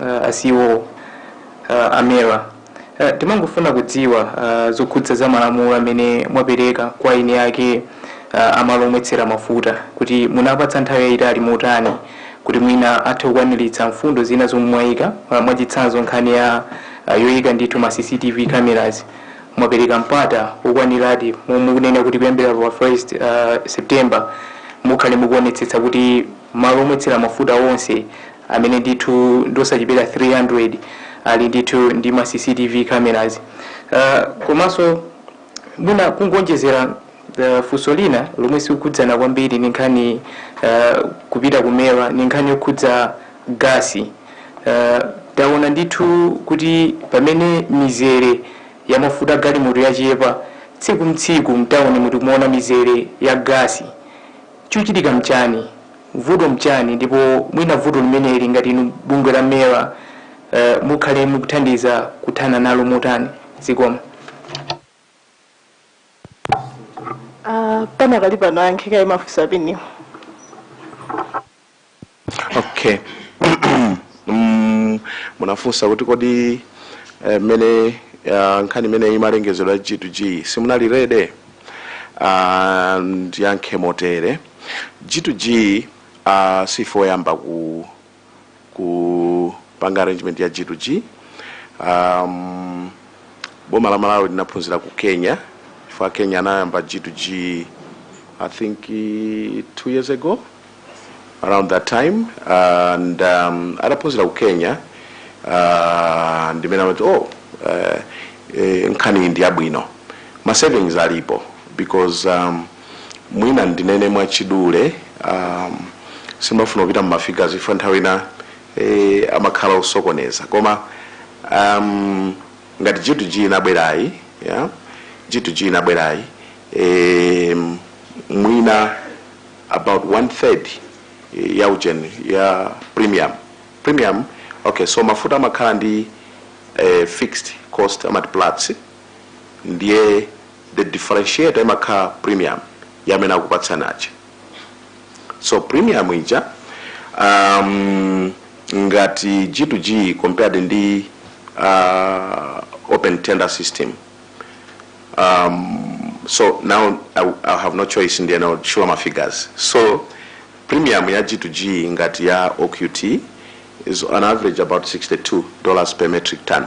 uh, a CEO uh, a MERA uh, timangofuna kudziwa uh, zokhudza za malamulo amene mwapereka kwa eni ake uh, amalo omwetsera mafuta kuti munapatsa nthawi yayitali motani kuti mwina athe kukwaniritsa mfundo zina zomwe mwayika uh, mwachitsanzo nkhani ya uh, yoyika ndithu ma cctv cameras mwapereka mpata wokwaniradi mukunena kuti kuyambira pa first uh, september mukhale mukuonetsetsa kuti malo omwetsera mafuta onse amene ndithu ndiosachepera 300 ali ndithu ndi ma cctv cameras uh, komanso mwina kungonjezera uh, funso lina lomwe sikukhudzana kwambiri ni nkhani uh, kupita ku MERA ni nkhani yokhudza gasi uh, taona ndithu kuti pamene mizere ya mafuta galimoto yachepa tsiku mtsiku mtawuni mu tikumaona mizere ya gasi chochitika mchani vuto mchani ndipo mwina vuto limeneli ngati inu bungwe la MERA mukhale mukuthandiza kuthana nalo motani? Zikomo. Uh, panakali pano ayankhe kaye mafunso a PS wo okay Mm, munafunsa kuti kodi eh, mmene ah, nkhani imeneyi imalengezedwa ya g2g simunali ready Ah, ndiyankhe motere G to G si ife oyamba ku kupanga arrangement ya G to G um, boma la Malawi linaphunzira ku Kenya chifukwa Kenya anayamba G to G I think eh, two years ago around that time and um, ataphunzira ku Kenya uh, ndimene amati oh uh, eh, nkhani ndi yabwino ma savings alipo because um, Mwina ndinene mwachidule, ahm, simafuna kupita mu ma figures chifukwa nthawi ina, eh, amakhala osokoneza. Koma, ahm, ngati G-2G inabwerayi, ya, G-2G inabwerayi, eh, mwina about one third ya ujeni, ya premium, premium, okay, so mafuta amakhala ndi, eh, fixed cost, amati platts, ndiye the differentiator imakhala premium ya amene akupatsani aja so premium ija um, ngati g to g compared ndi uh, open tender system so now I, I have no choice ndiye now show my figures so premium ya g to g ngati ya oqt is on average about 62 dollars per metric ton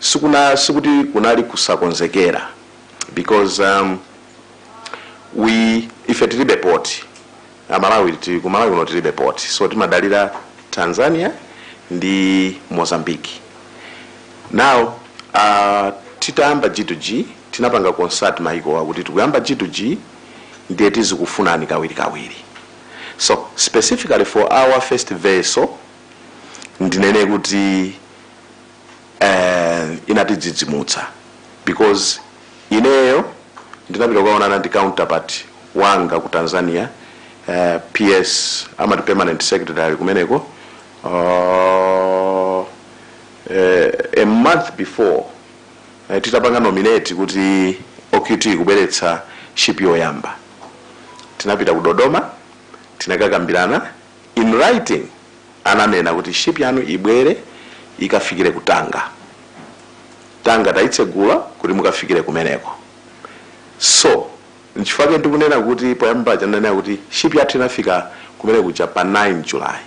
sikuna sikuti kunali kusakonzekera because um, we ife tilibe port amalawi ti- ku malawi kuno tilibe port so timadalira tanzania ndi mozambique now uh, titayamba g2g tinapanga consult maikowa kuti tikuyamba g2g ndiye tizikufunani kawirikawiri so specifically for our first vessel ndinene kuti eh, inatidzidzimutsa because ineyo ndinapita kuonana ndi counterpart wanga ku tanzania eh, ps amati permanent secretary kumeneko uh, eh, a month before eh, titapanga nominate kuti oqt kubweretsa ship yoyamba tinapita ku dodoma tinakakambirana in writing ananena kuti ship yanu ibwere ikafikire ku tanga tanga tayitsegula kuti mukafikire kumeneko so nchifukwa chake ndikunena kuti poyamba ndinanena kuti ship yathu inafika kumene kuja pa 9 july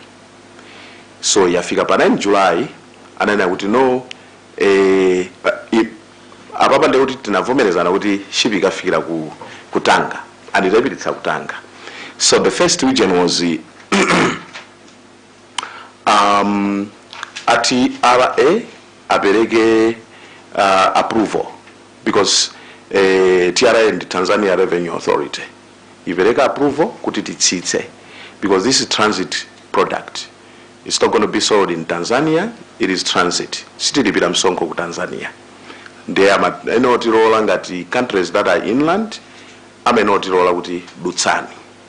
so yafika pa 9 july ananena kuti no eh, pa- i- apapa ndiye kuti tinavomerezana kuti ship ikafikira ku, ku tanga anayipititsa ku tanga so the first reason was eh, um, a tra apereke uh, approval because eh, tra ndi tanzania revenue authority ipereke approval kuti titsitse because this is transit product it's not going to be sold in tanzania it is transit sitilipira msonkho ku tanzania ndiye amayenera kutilola ngati countries that are inland amayenera kutilola kuti dutsani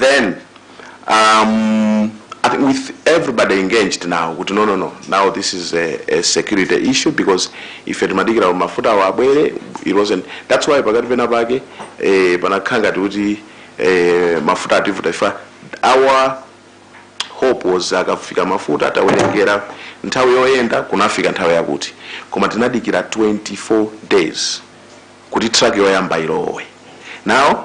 then um, I think with everybody engaged now kuti no no no now this is a, a security issue because ife timadikira mafuta awo abwere it wasn't that's why pakati pena pake eh, panakhala ngati kuti eh, mafuta ativuta ifa our hope was akafika mafuta tawerengera nthawi yoyenda kunafika nthawi yakuti koma tinadikira 24 days kuti truck yoyamba ilowe now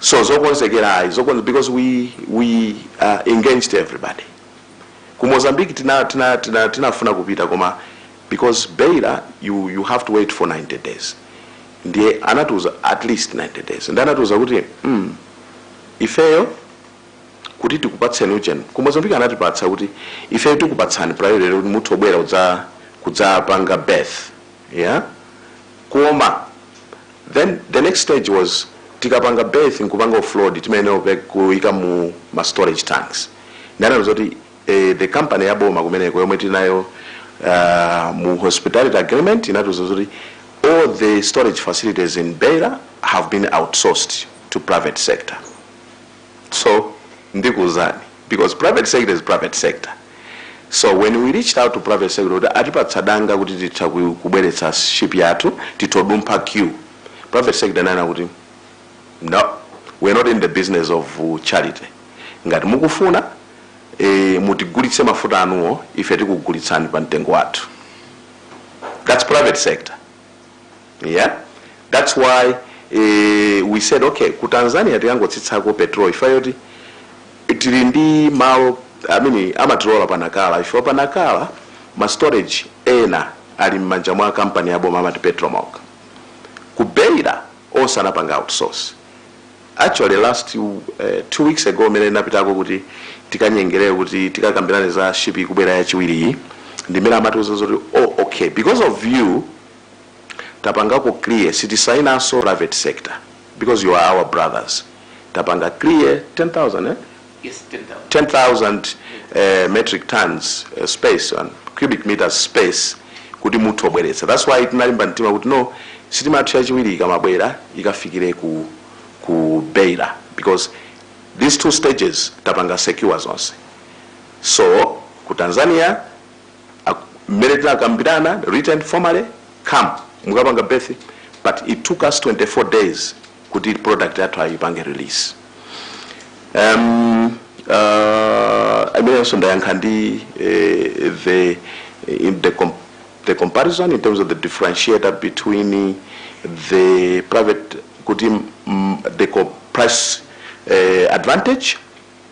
so zokonzekera ayi zokonze because we, we uh, engaged everybody ku mozambique tinafuna tina, tina, tina kupita koma because beira you, you have to wait for 90 days ndiye anatiuza at least 90 days ndi anatiuza kuti mm, ifeyo kuti tikupatseni ujeni ku mozambique anatipatsa kuti ifeyo tikupatsani priority kuti muthu obwera kudza kudzapanga berth yeah koma then the next stage was tikapanga berth nkupanga offload timayenera kupe- kuyika mu ma storage tanks anatiuza zoti eh, the company ya boma kumeneko yomwe tinayo uh, mu hospitality agreement inatiuza zoti all the storage facilities in beira have been outsourced to private sector so ndikuuzani because private sector is private sector so when we reached out to private sector kuti atipatsa danga kuti titha ku- kubweretsa ship yathu titha kudumpha queue private sector inanena kuti no we're not in the business of uh, charity ngati mukufuna eh, mutigulitse mafuta anuwo ife tikugulitsani pa mtengo wathu that's private sector yeah that's why eh, we said okay ku tanzania tikangotsitsako petrol chifukwa choti tili ndi malo amene amatilola pa Nacala ife pa Nacala ma storage ena ali m'manja mwa kampani ya boma amati Petromoc ku beira onse anapanga outsource Actually last uh, two weeks ago mene napitako kuti tikanyengerere kuti tikakambirane za ship ikubwera yachiwiriyi ndi m'mene amatiuza zoti oh, okay because of you tapangako clear sitisainanso private sector because you are our brothers tapanga clear 10000 eh? Yes, 10,000. 10,000 uh, metric tons uh, space and cubic meters space kuti mutha kubweretsa that's why tinalimba mtima kuti no sitima yathu yachiwiri ikamabwera ikafikire ku, ku beira because these two stages tapanga secure zonse so ku tanzania ak- mmene tinakambirana written formally come mukapanga berth but it took us 24 days kuti product yathu ayipange release um, uh, I mean so ndayankha ndi eh, the, in the, com the comparison in terms of the differentiator between the private kuti mm, the co- price eh, advantage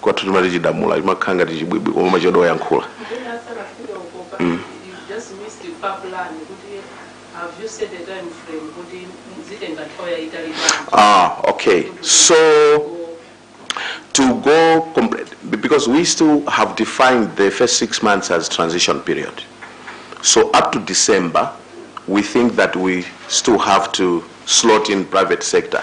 kwathu timati chidamula chimakhala ngati chibwibwi koma machedwa oyankhula Then after a few of Opa, Mm. you just missed the far plan. Could you, have you set a time frame? Could you, zitenga nthawi yayitali bwanji? ah okay so to go complete because we still have defined the first six months as transition period so up to december we think that we still have to slot in private sector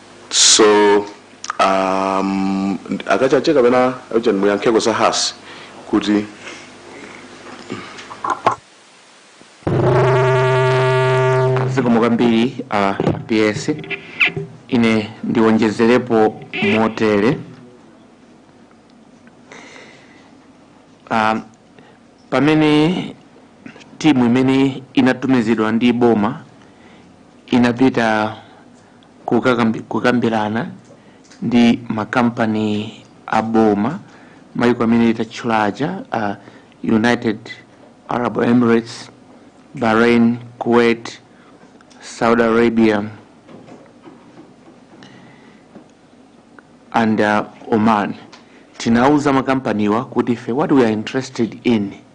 so um, a Kachaje kapena ujeni muyankheko za Hass kuti zikomo kwambiri a ps ine ndiwonjezerepo motere um, pamene timu imene inatumizidwa ndi boma inapita kukambirana ndi makampani a boma maiko amene tatchula aja a united arab emirates bahrain kuwait saudi arabia and uh, oman tinauza makampaniwa kuti ife what we are interested in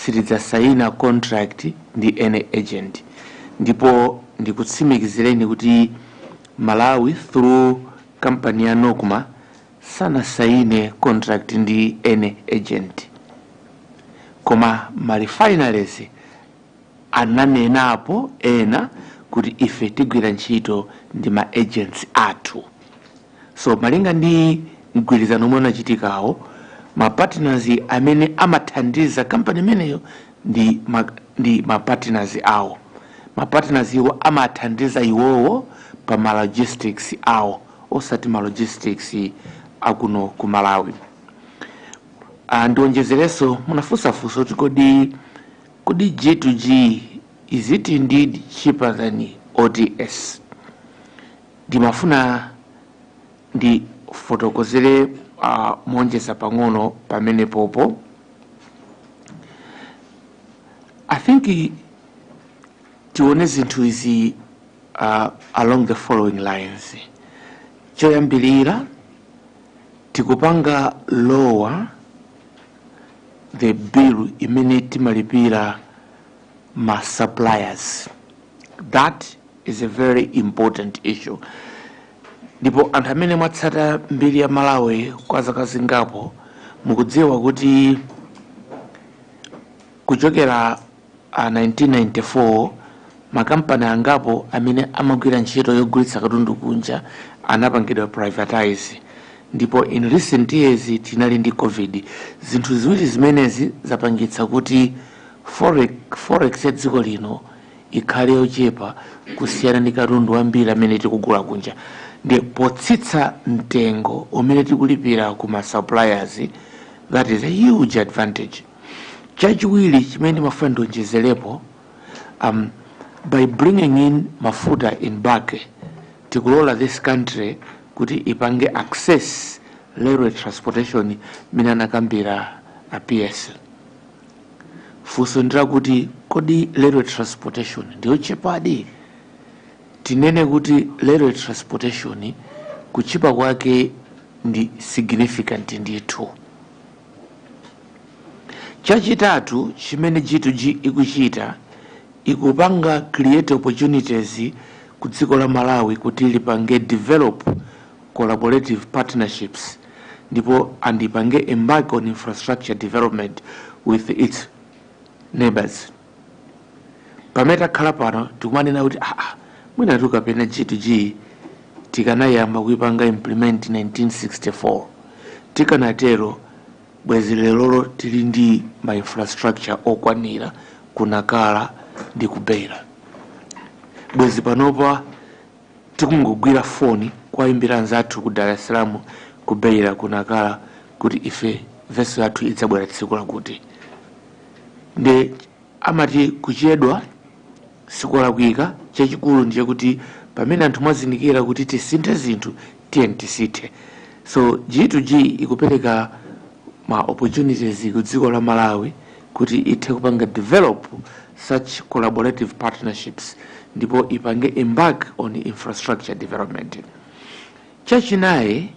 Sitidzasayina contract ndi any agent ndipo ndikutsimikizireni kuti Malawi through company ya Nocma sanasayine contract ndi any agent. Koma ma refineries ananenapo ena kuti ife tigwira ntchito ndi ma agents athu. So malinga ndi mgwirizano omwe unachitikawo, ma partners amene amathandiza company imeneyo ndi ma, ndi ma partners awo. Ma partners iwo amathandiza iwowo pa ma logistics awo osati ma logistics akuno ku Malawi. Ah, ndionjezerenso munafunsa funso kuti kodi G to G is it indeed cheaper than OTS? Ndimafuna ndifotokozere moonjeza pang'ono pamenepopo. I think tione zinthu izi along the following lines. Choyambirira tikupanga lower the bill imene timalipira ma suppliers. That is a very important issue ndipo anthu amene mwatsata mbiri ya malawi kwa zaka zingapo mukudziwa kuti kuchokera 1994 makampani angapo amene amagwira ntchito yogulitsa katundu kunja anapangidwa privatize ndipo in recent years tinali ndi covid zinthu ziwiri zimenezi zapangitsa kuti forex, forex ya dziko lino ikhale yochepa kusiyana ndi katundu wambiri amene tikugula kunja ndi potsitsa mtengo umene tikulipira ku ma suppliers that is a huge advantage chachiwiri chimene ndimafuna ndionjezerepo by bringing in mafuta in bulk tikulola this country kuti ipange access railway transportation mmene anakambira a ps Funso ndilakuti kodi railway transportation ndiyotchipadi? Tinene kuti railway transportation kutchipa kwake ndi significant ndithu. Chachitatu chimene G2G ikuchita ikupanga create opportunities ku dziko la Malawi kuti lipange develop collaborative partnerships ndipo andipange embark on infrastructure development with its neighbors pamene takhala pano tikumanena kuti aa mwina tukapena g2g tikanayamba kuipanga implement 1964 tikanatero bwezi lerolo tili ndi ma infrastructure okwanira ku Nacala ndi ku Beira bwezi panopa Tikungogwira foni kuwayimbira anzathu ku Dar es Salaam, ku Beira, ku Nacala kuti ife vessel yathu idzabwera tsiku lakuti. Nde amati kuchedwa sikolakwika, chachikulu ndichakuti pamene anthu mwazindikira kuti tisinthe zinthu tiyeni tisinthe so G to G ikupereka ma opportunities ku dziko la Malawi kuti ithe kupanga develop such collaborative partnerships ndipo ipange embark on infrastructure development chachinayi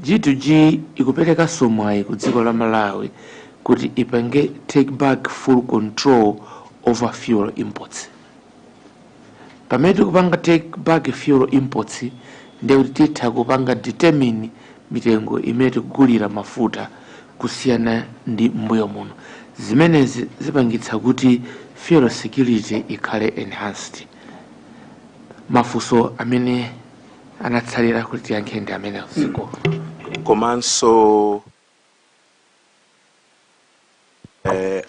G to G ikuperekaso mwayi ku dziko la Malawi kuti ipange take back full control over fuel imports pamene tikupanga take back fuel imports ndiye kuti titha kupanga determine mitengo imene tikugulira mafuta kusiyana ndi m'mbuyo muno zimenezi zipangitsa kuti fuel security ikhale enhanced mafunso amene anatsalira kuti tiyankhe ndi amene ziko komanso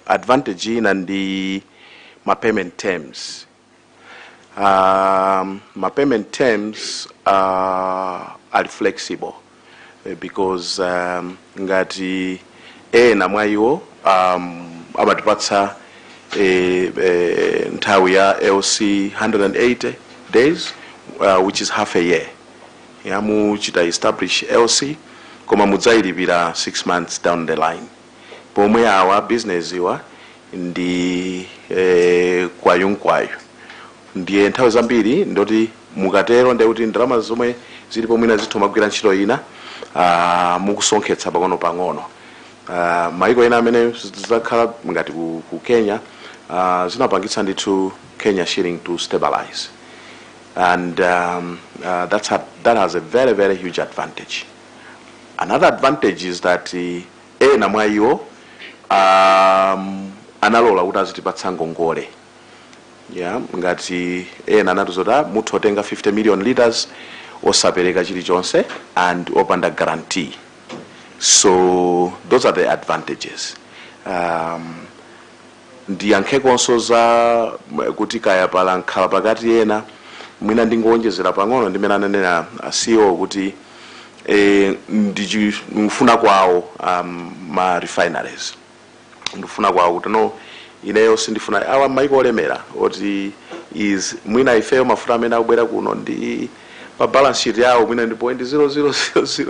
advantage ina ndi ma payment terms um, ma payment terms uh, are flexible Eh, because um, ngati ena mwa iwo um, amatipatsa eh, eh, nthawi ya lc 180 days uh, which is half a year ya muchita establish lc koma mudzayilipira 6 months down the line pomwe awa a business awa ndi eh, kwayunkwayu ndiye nthawi zambiri ndikuti mukatero ndiye kuti ndalama zomwe zilipo mwina zitha kumagwira ntchito ina ah, mukusonkhetsa pang'ono pang'ono Ah, maiko ena amene zakhala ngati ku, ku kenya ah, zinapangitsa ndithu kenya shilling to stabilize and um, uh, that's a, that has a very very huge advantage another advantage is that uh, Ena mwa iwo um, analola kuti azitipatsa ngongole yeah, ngati ena anatiuza kuti "Ah, mutha kutenga 50 million liters osapereka chilichonse and opanda guarantee so those are the advantages um, ndiyankhekonso za kuti kaya pali mkhalapakati ena mwina ndingowonjezera pang'ono ndi mene ananena a ceo kuti e, ndikufuna kwawo um, ma refineries ndikufuna kwawo kuti no ineyo sindifuna awa maiko olemera oti is mwina ifeyo mafuta amene akubwera kuno ndi pa balance sheet yawo mwina ndi point 0000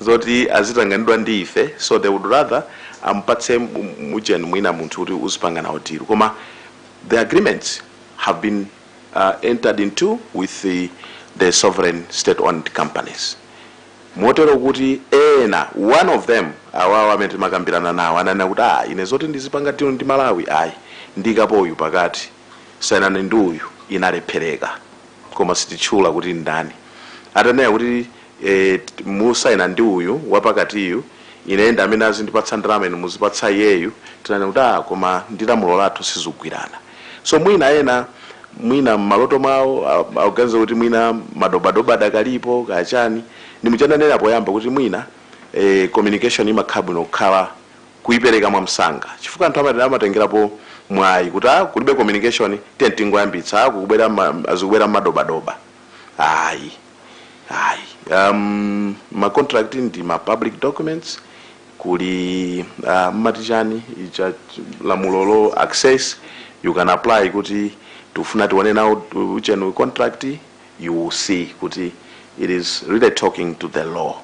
zoti azitanganidwa ndi ife so they would rather ampatse mujeni mwina munthu kuti uzipanga nawo deal koma the agreements have been uh, entered into with the, the sovereign state owned companies motero kuti ena one of them awawa amene timakambirana nawo ananena kuti ah ine zoti ndizipanga deal ndi malawi ayi ndiikapo uyu pakati sainani ndi uyu inalephereka koma sititchula kuti ndani atanena kuti e, musayina ndi uyu wapakatiyu ine ndi amene azindipatsa ndalama inu muzipatsa iyeyu tinanena kuti ah, koma ndi lamulo lathu sizikugwirana so mwina ena mwina mmaloto mwawo a- akuganiza kuti mwina madobadoba adakalipo kapena n'chimene ndinanena poyamba kuti mwina eh, communication imakhala bwino ukhala kuipereka mwamsanga chifukwa anthu amati amatengerapo mwayi kuti ah, kulibe communication tiye tingoyambitsa ah, kukubwera ma- azikubwera madobadoba ayi ayi um, ma contract ndi ma public documents kuli uh, mumati chani icha lamulolo access you can apply kuti tifuna tione nawo contract you will see kuti it is really talking to the law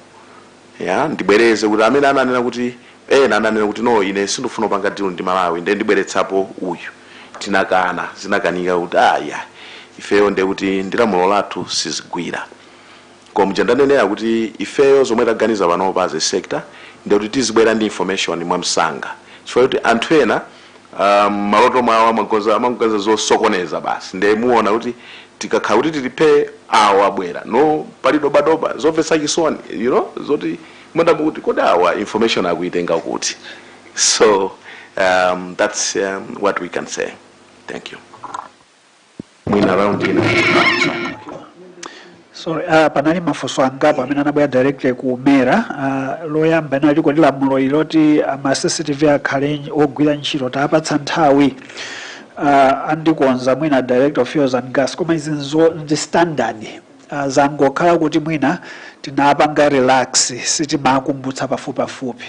Ya, ndibwereze kuti amene ananena kuti ena ananena kuti no ine sindifuna kupanga deal ndi Malawi nde ndibweretsapo uyu tinakana zinakanika kuti ah ya ifeyo nde kuti ndilamulo lathu sizigwira koma muja ndanenera kuti ifeyo zomwe taganiza panopa as a sector nde kuti tizibwera ndi information mwamsanga chifukwa kuti anthu ena mmaloto mwawo amangoganiza zosokoneza basi nde muona kuti tikakhala kuti tili phee awo abwera no pali dobadoba zomvetsa chisoni you know zoti mwandamo kuti kodi awa information akuitenga kuti so um, that's um, what we can say thank you mwina round ina sorry uh, panali mafunso angapo amene anabwera direct ku mera uh, loyamba linali kodi lamulo ili loti uh, ma cctv akhale nyi- ogwira ntchito tapatsa nthawi uh, andikonza mwina director of fuels and gas koma izizo ndi standard uh, zangokhala kuti mwina tinapanga relax sitimakumbutsa pafupipafupi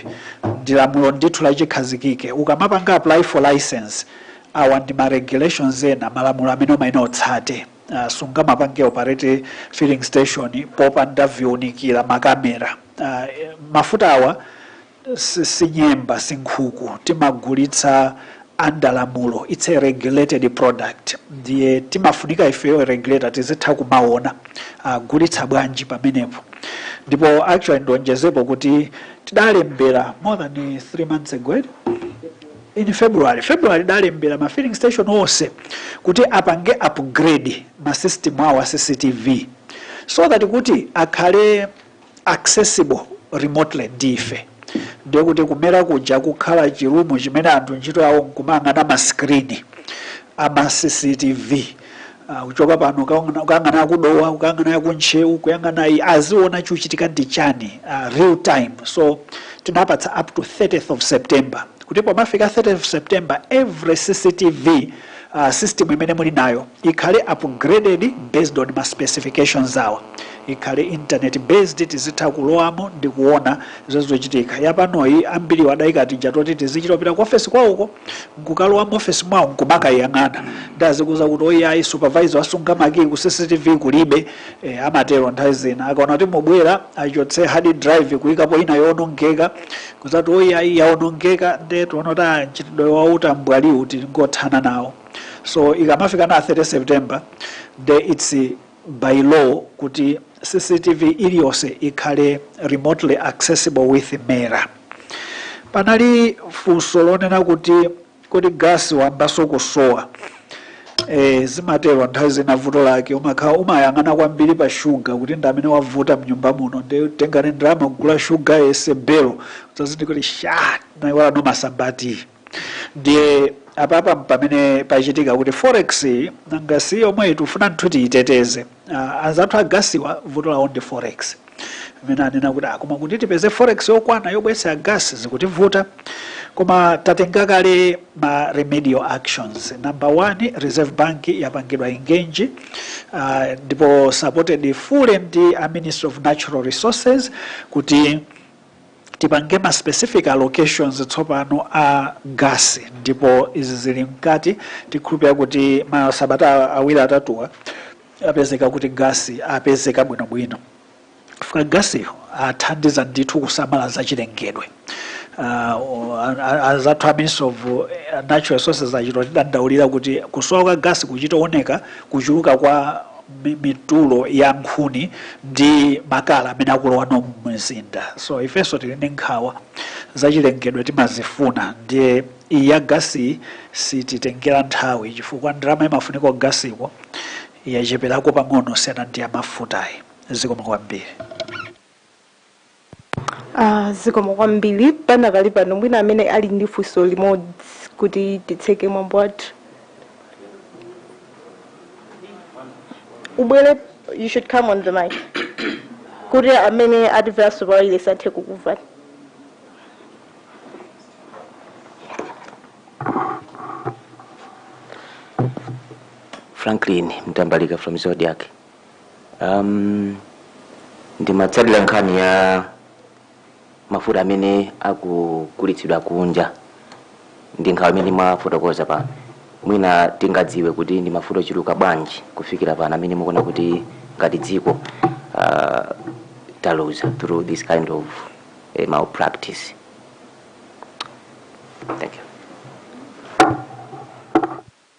ndi lamulo ndithu lachikhazikike ukamapanga apply for license Awa ndi ma regulations ena, malamulo amene umayenera utsate. Sungamapange operate filling station popanda viunikira, makamera. Mafuta awa si nyemba, si nkhuku, timagulitsa under lamulo, it's a regulated product ndiye timafunika ifeyo regulator tizitha kumaona agulitsa bwanji pamenepo. Ndipo actually ndionjezepo kuti tidalembera more than 3 months ago eti? in february february tidalembera ma filling station onse kuti apange upgrade ma system awo a cctv so that kuti akhale accessible remotely ndife ndiye kuti kumera kuja kukhala chirumu chimene anthu ntchito yawo nkumayang'ana ma screen ama cctv Ah, kuchoka pano ukaona- ukayang'ana ku Dowa ukayang'ana ku Ntcheu kuyang'ana iyi aziona chikuchitika ndi chani ah, real time so tinapatsa up to 30th of september kuti pomafika 30th of september every cctv ah, system imene muli nayo ikhale upgraded based on ma specifications awa ikhale internet based tizitha kulowamo ndi kuona zochitika yapanoyi ambiri adayika tijatu toti tizichita kupita ku ofesi kwawoko nkukalowa muofesi mwawo nkumakayang'ana nde azikuuza kuti oyayi supervisor asunga makiyi ku cctv kulibe e, amatero nthawi zina akaona kuti mukubwera achotse hard drive kuyikapo ina yoonongeka kuzakuti oyayi yaonongeka nde taona kuti ah, mchitidwe wautambwaliwu tingothana nawo so ikamafika pa 30 september nde its by law kuti cctv iliyonse ikhale remotely accessible with mera panali funso lonena kuti kodi gasi wayambanso kusowa e, zimatero nthawi zina vuto lake umakhala umayang'ana kwambiri pa shuga kuti ndi amene wavuta mnyumba muno nditenge ndalama kugula shuga yense belo udzazindikira kuti sha naiwalanso masamba eti ndiye apapa pamene pachitika kuti forex nanga si yomwe tifuna ndithu tiyiteteze Ah, anzathu a gasiwa vuto lawo ndi forex amene anena kuti "Ah, koma kuti tipeze forex yokwana yobweretsera gas zikutivuta koma tatenga kale ma remedial actions number one reserve bank yapangidwa engage uh, ndipo supported fully ndi a Ministry of natural resources kuti tipange ma specific allocations tsopano a gas ndipo izi zili mkati tikhulupira kuti masabata awiri atatuwa apezeka kuti gas apezeka bwinobwino chifukwa gasiyo athandiza ndithu kusamala zachilengedwe uh, anzathu a Ministry of uh, natural resources achita kutidandaulira kuti kusowa kwa gasi kuchitooneka kuchuluka kwa mi- mitulo ya nkhuni ndi makala amene akulowa muno mumzinda so ifenso tili ndi nkhawa zachilengedwe timazifuna ndiye iyi ya gasi sititengera nthawi chifukwa ndalama imafunika ku gasiko yacheperako pang'ono siyana ndi ya mafutayi zikomo kwambiri Ah, zikomo kwambiri panakali pano mwina amene ali ndi funso limodzi kuti titseke mwambo wathu ubwere you should come on the mic kuti amene atimveranso pa wailesi athe kukumvani Franklin Mtambalika from Zodiak um, ndimatsatira nkhani ya mafuta amene akugulitsidwa kunja ndi nkhawa imene mwafotokoza pano mwina tingadziwe kuti ndi mafuta ochuluka bwanji kufikira pano amene mukuona kuti ngati dziko uh, taluza through this kind of uh, malpractice thank you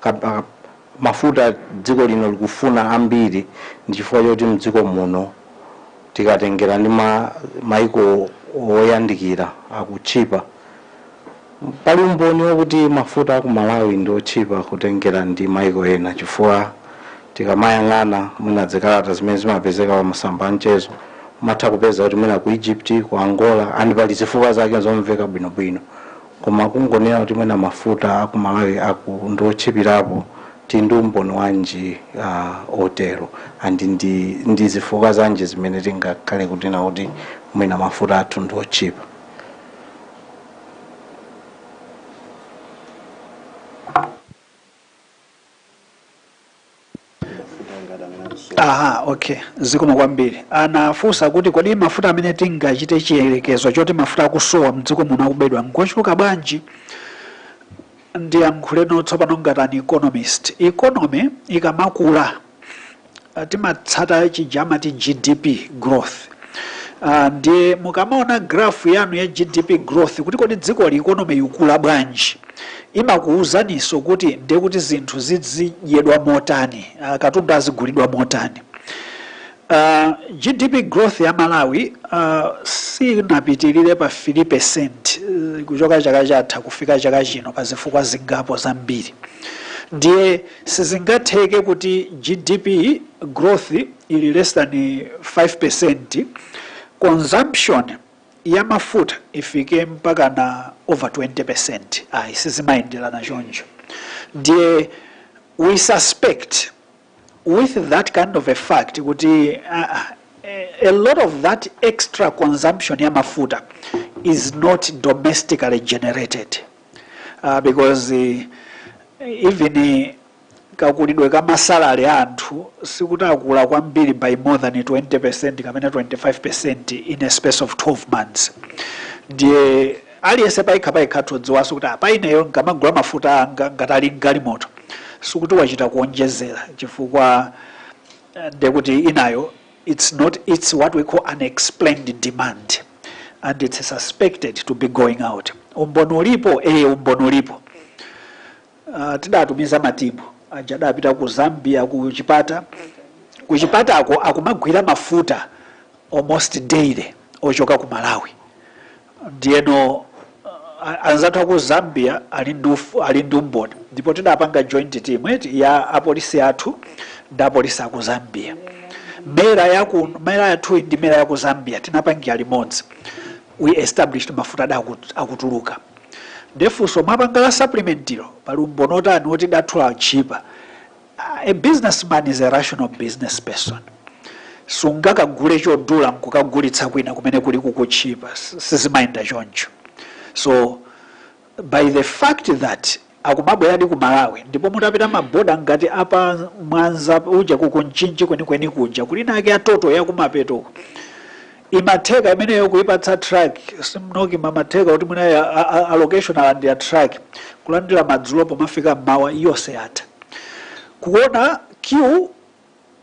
Ka mafuta dziko lino likufuna ambiri ndi chifukwa choti mdziko muno tikatengera ndi maiko oyandikira akutchipa. Pali umboni okuti mafuta aku Malawi ndi otchipa kutengera ndi maiko ena chifukwa tikamayang'ana mwina zikalata zimene zimapezeka pa masamba a mchezo umatha kupeza kuti mwina ku Egypt, ku Angola and pali zifukwa zake zomveka bwinobwino. koma kungonena kuti mwina mafuta aku Malawi aku ndiotchipilapo tili ndi umboni wanji uh, otero and ndi, ndi zifukwa zanji zimene tingakhale kunena kuti mwina mafuta athu ndiotchipa aha okay zikomo kwambiri anafunsa kuti kodi mafuta amene tingachite chiyerekezo choti mafuta akusowa mdziko muno akubedwa ngochuluka bwanji ndiyankhuleko tsopano ngati an economist economy ikamakula timatsata chija amati GDP growth. Uh, ndiye mukamaona graph yanu ya GDP growth kuti kodi dzikoli economy ikukula bwanji imakuwuzaniso kuti ndiye kuti zinthu zizidyedwa motani uh, katundu azigulidwa motani uh, GDP growth ya Malawi uh, sinapitirire pa 3% uh, kuchoka chaka chatha kufika chaka chino pa zifukwa zingapo zambiri ndiye Sizingatheke kuti GDP growth ili less than 5%, consumption ya mafuta ifike mpakana over 20%, ayi sizimayendelana choncho. Ndiye we suspect with that kind of a fact kuti uh, a lot of that extra consumption ya mafuta is not domestically generated. uh, because uh, even uh, kakulidwe ka masalary a anthu sikuti akula kwambiri by more than 20 percent kapena 25 percent in a space of 12 months ndiye aliyense payekha payekha atha kudziwanso kuti apa ineyo nkamagula mafuta anga ngati ali ndi galimoto sikuti wachita kuonjezera chifukwa eh, ndekuti inayo It's not, it's what we call unexplained demand and it's suspected to be going out. Umboni ulipo, eh, umboni ulipo. Uh, tidatumiza matimu aja adapita ku Zambia ku Chipata. Ku Chipatako akumagwira mafuta almost daily ochoka ku Malawi. ndiyeno anzathu aku zambia ali ndi uf- ali ndi umboni ndipo tidapanga joint team eti ya apolisi athu ndi apolisi aku zambia mera yaku mera yathu ndi mera yaku zambia tinapangira limodzi we established mafuta ada akut- akutuluka nde funso mwapanga la supplementary lo pali umboni otani oti kwathu ndi otchipa A businessman is a rational business person. Sungakagule chodula nkukagulitsa kwina kumene kuli kukutchipa. Sizimayenda choncho. So by the fact that akumabweradi ku Malawi ndipo mutapita m'maboda ngati apa Mwanza uja ku Mchinji kwenikweni kuja kuli anaake a Total yakumapeto Imatheka imeneyo kuipatsa truck simnoki mamatheka kuti mwina ya- a- a- allocation alandira truck kulandira madzulo pomafika mmawa yonse yatha kuona queue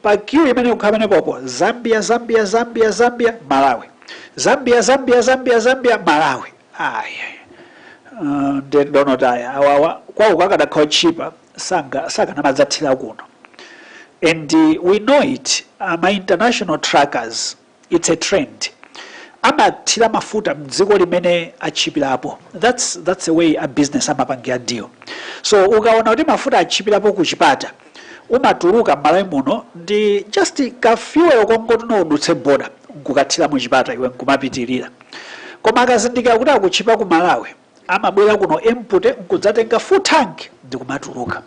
pa queue imene kukhala pamene pompo zambia zambia zambia zambia malawi zambia zambia zambia zambia malawi aya ndedonotaya awawa kwawo kukadakhala tchipa sakanamadzathira kuno and uh, we know it uh, ma international truckers It's a trend. Amathira mafuta mdziko limene atchipirapo. That's that's the way a business amapangira deal. So ukaona kuti mafuta atchipirapo ku Chipata umatuluka m'malawi muno ndi just ka fuel kongoti udutse border nkukathira mu Chipata iwe nkumapitirira. Koma akazindikira kuti akutchipa ku Malawi amabwera kuno empty nkudzatenga full tank ndikumatuluka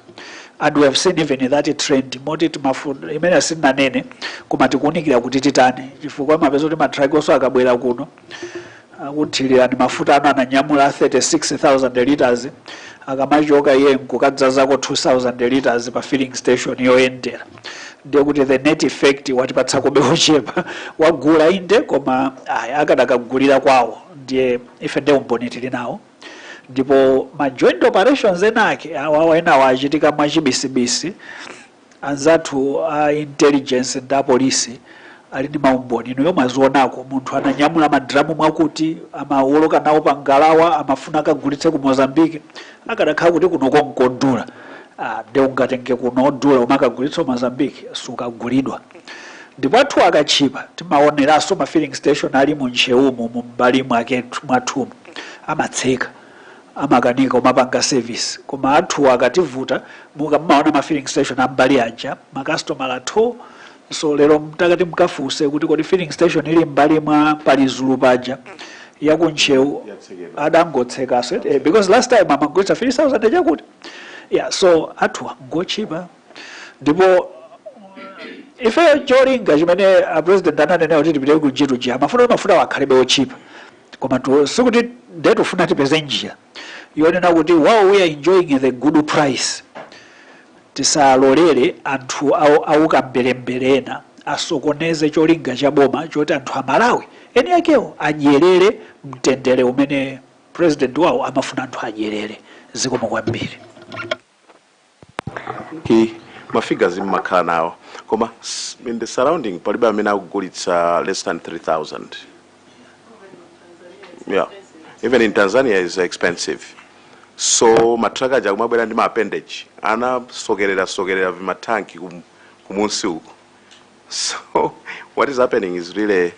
and we have seen even that trend moti timafuna imene asinanene koma tikuunikira kuti titani chifukwa mapeza kuti matrakiwonso akabwera kuno akuthirirani mafutawo ananyamula 36000 liters akamachoka iye nkukadzazako 2000 liters pa filling station yoyendera ndiye kuti the net effect watipatsakobe ochepa wagula inde koma akadakagulira kwawo ndiye Ife nde umboni tili nawo ndipo ma joint operations enaake awawa enawa achitika mwachibisibisi, anzathu a intelligence ndi apolisi ali ndi maumboni inuyo mwazionako munthu ananyamula madramu mwakuti amawoloka nawo pa ngalawa amafuna akagulitse ku Mozambique akadakhala kuti kunoko nkodhula ah, nde ungatenge kuno odhula kumakagulitsa ku Mozambique sukagulidwa ndipo athu akatchipa timaoneranso ma filling station ali mu Ntcheumu mu mbali mwake mwathumu amatseka amakanika kumapanga service koma athu akativuta mukamaona ma filling station ambali aja makasitomala athu So lero mutati mukafunse kuti kodi filling station ili mbali mwa pa Lizulu paja ya ku Ntcheu adangotsekaso eti, eh, because last time amagulitsa 3000 chakuti yeah so athu ngotchipa ndipo ife cholinga chimene a president ananena kuti tipite ku G2G amafuna kuti mafutawo akhalebe otchipa koma tu- sikuti nde tufuna tipeze njira yonena kuti while we are enjoying the good price tisalolere anthu aukamberembere ena asokoneze cholinga cha boma choti anthu a Malawi eni akewo adyerere mtendere umene president wawo amafuna anthu adyerere zikomo kwambiri i ma figures mmakhala nawo koma s- in the surrounding palibe amene akugulitsa less than 3000 yeah even in tanzania is expensive so matraka aja akumabwera ndi ma appendage anasokerera sokerera vimatanki kum, kumusi uku So what is happening is really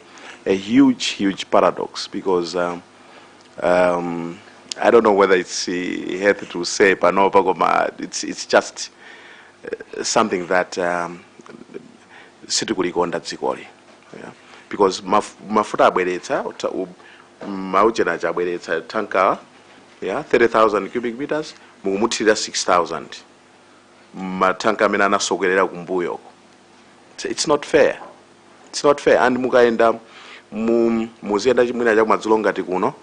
a huge, huge paradox because um, um, I don't know whether it's uh, healthy to say panopa koma it's, it's just uh, something that um, sitikulikonda dzikoli yeah. because maf mafuta abweretsa uta- u- mauchena aja abweretsa tanka yeah, 30000 cubic meters mukumuthirira 6000 matanka amene anasokerera kumbuyoko It's- it's not fair it's not fair and mukayenda mu- muziyenda chimwina chakumadzulo ngati kuno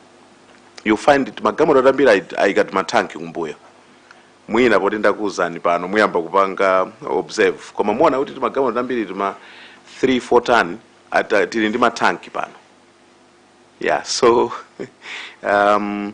you find timagalimoto tambiri ayi- ayika timathanki kumbuyo mwina poti ndakuwuzani pano muyamba kupanga observe koma muona kuti timagalimoto tambiri tima 3 4 ton ata tili ndi mathanki pano yeah so um,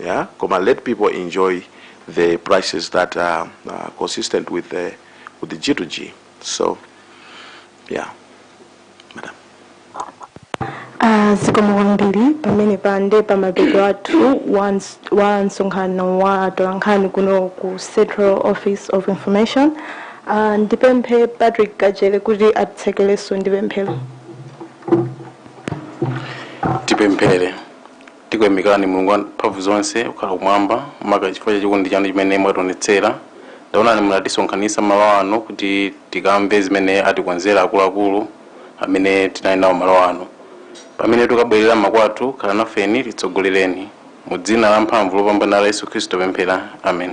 yeah koma let people enjoy the prices that are uh, consistent with the, with the G to G. So, yeah, madam. zikomo kwambiri pamenepa nde pa mapeto athu wa ns- wa msonkhano wa atolankhani kuno ku central office of information Ah, ndipemphe patrick kajere kuti atitsekerenso ndi pemphero tipemphere Tikuyamikani, Mulungu wamphamvu zonse, okhala kumwamba, maka chifukwa cha chikondi chanu chimene mwatiwonetsera. Taonani munatisonkhanitsa malo ano kuti tikamve zimene atikonzera akuluakulu amene tinali nawo malo ano. Pamene tukabwerera makwathu, khala nafeni, titsogolereni. Mu dzina la mphamvu lopambana la Yesu Khristu tapemphera. Amen.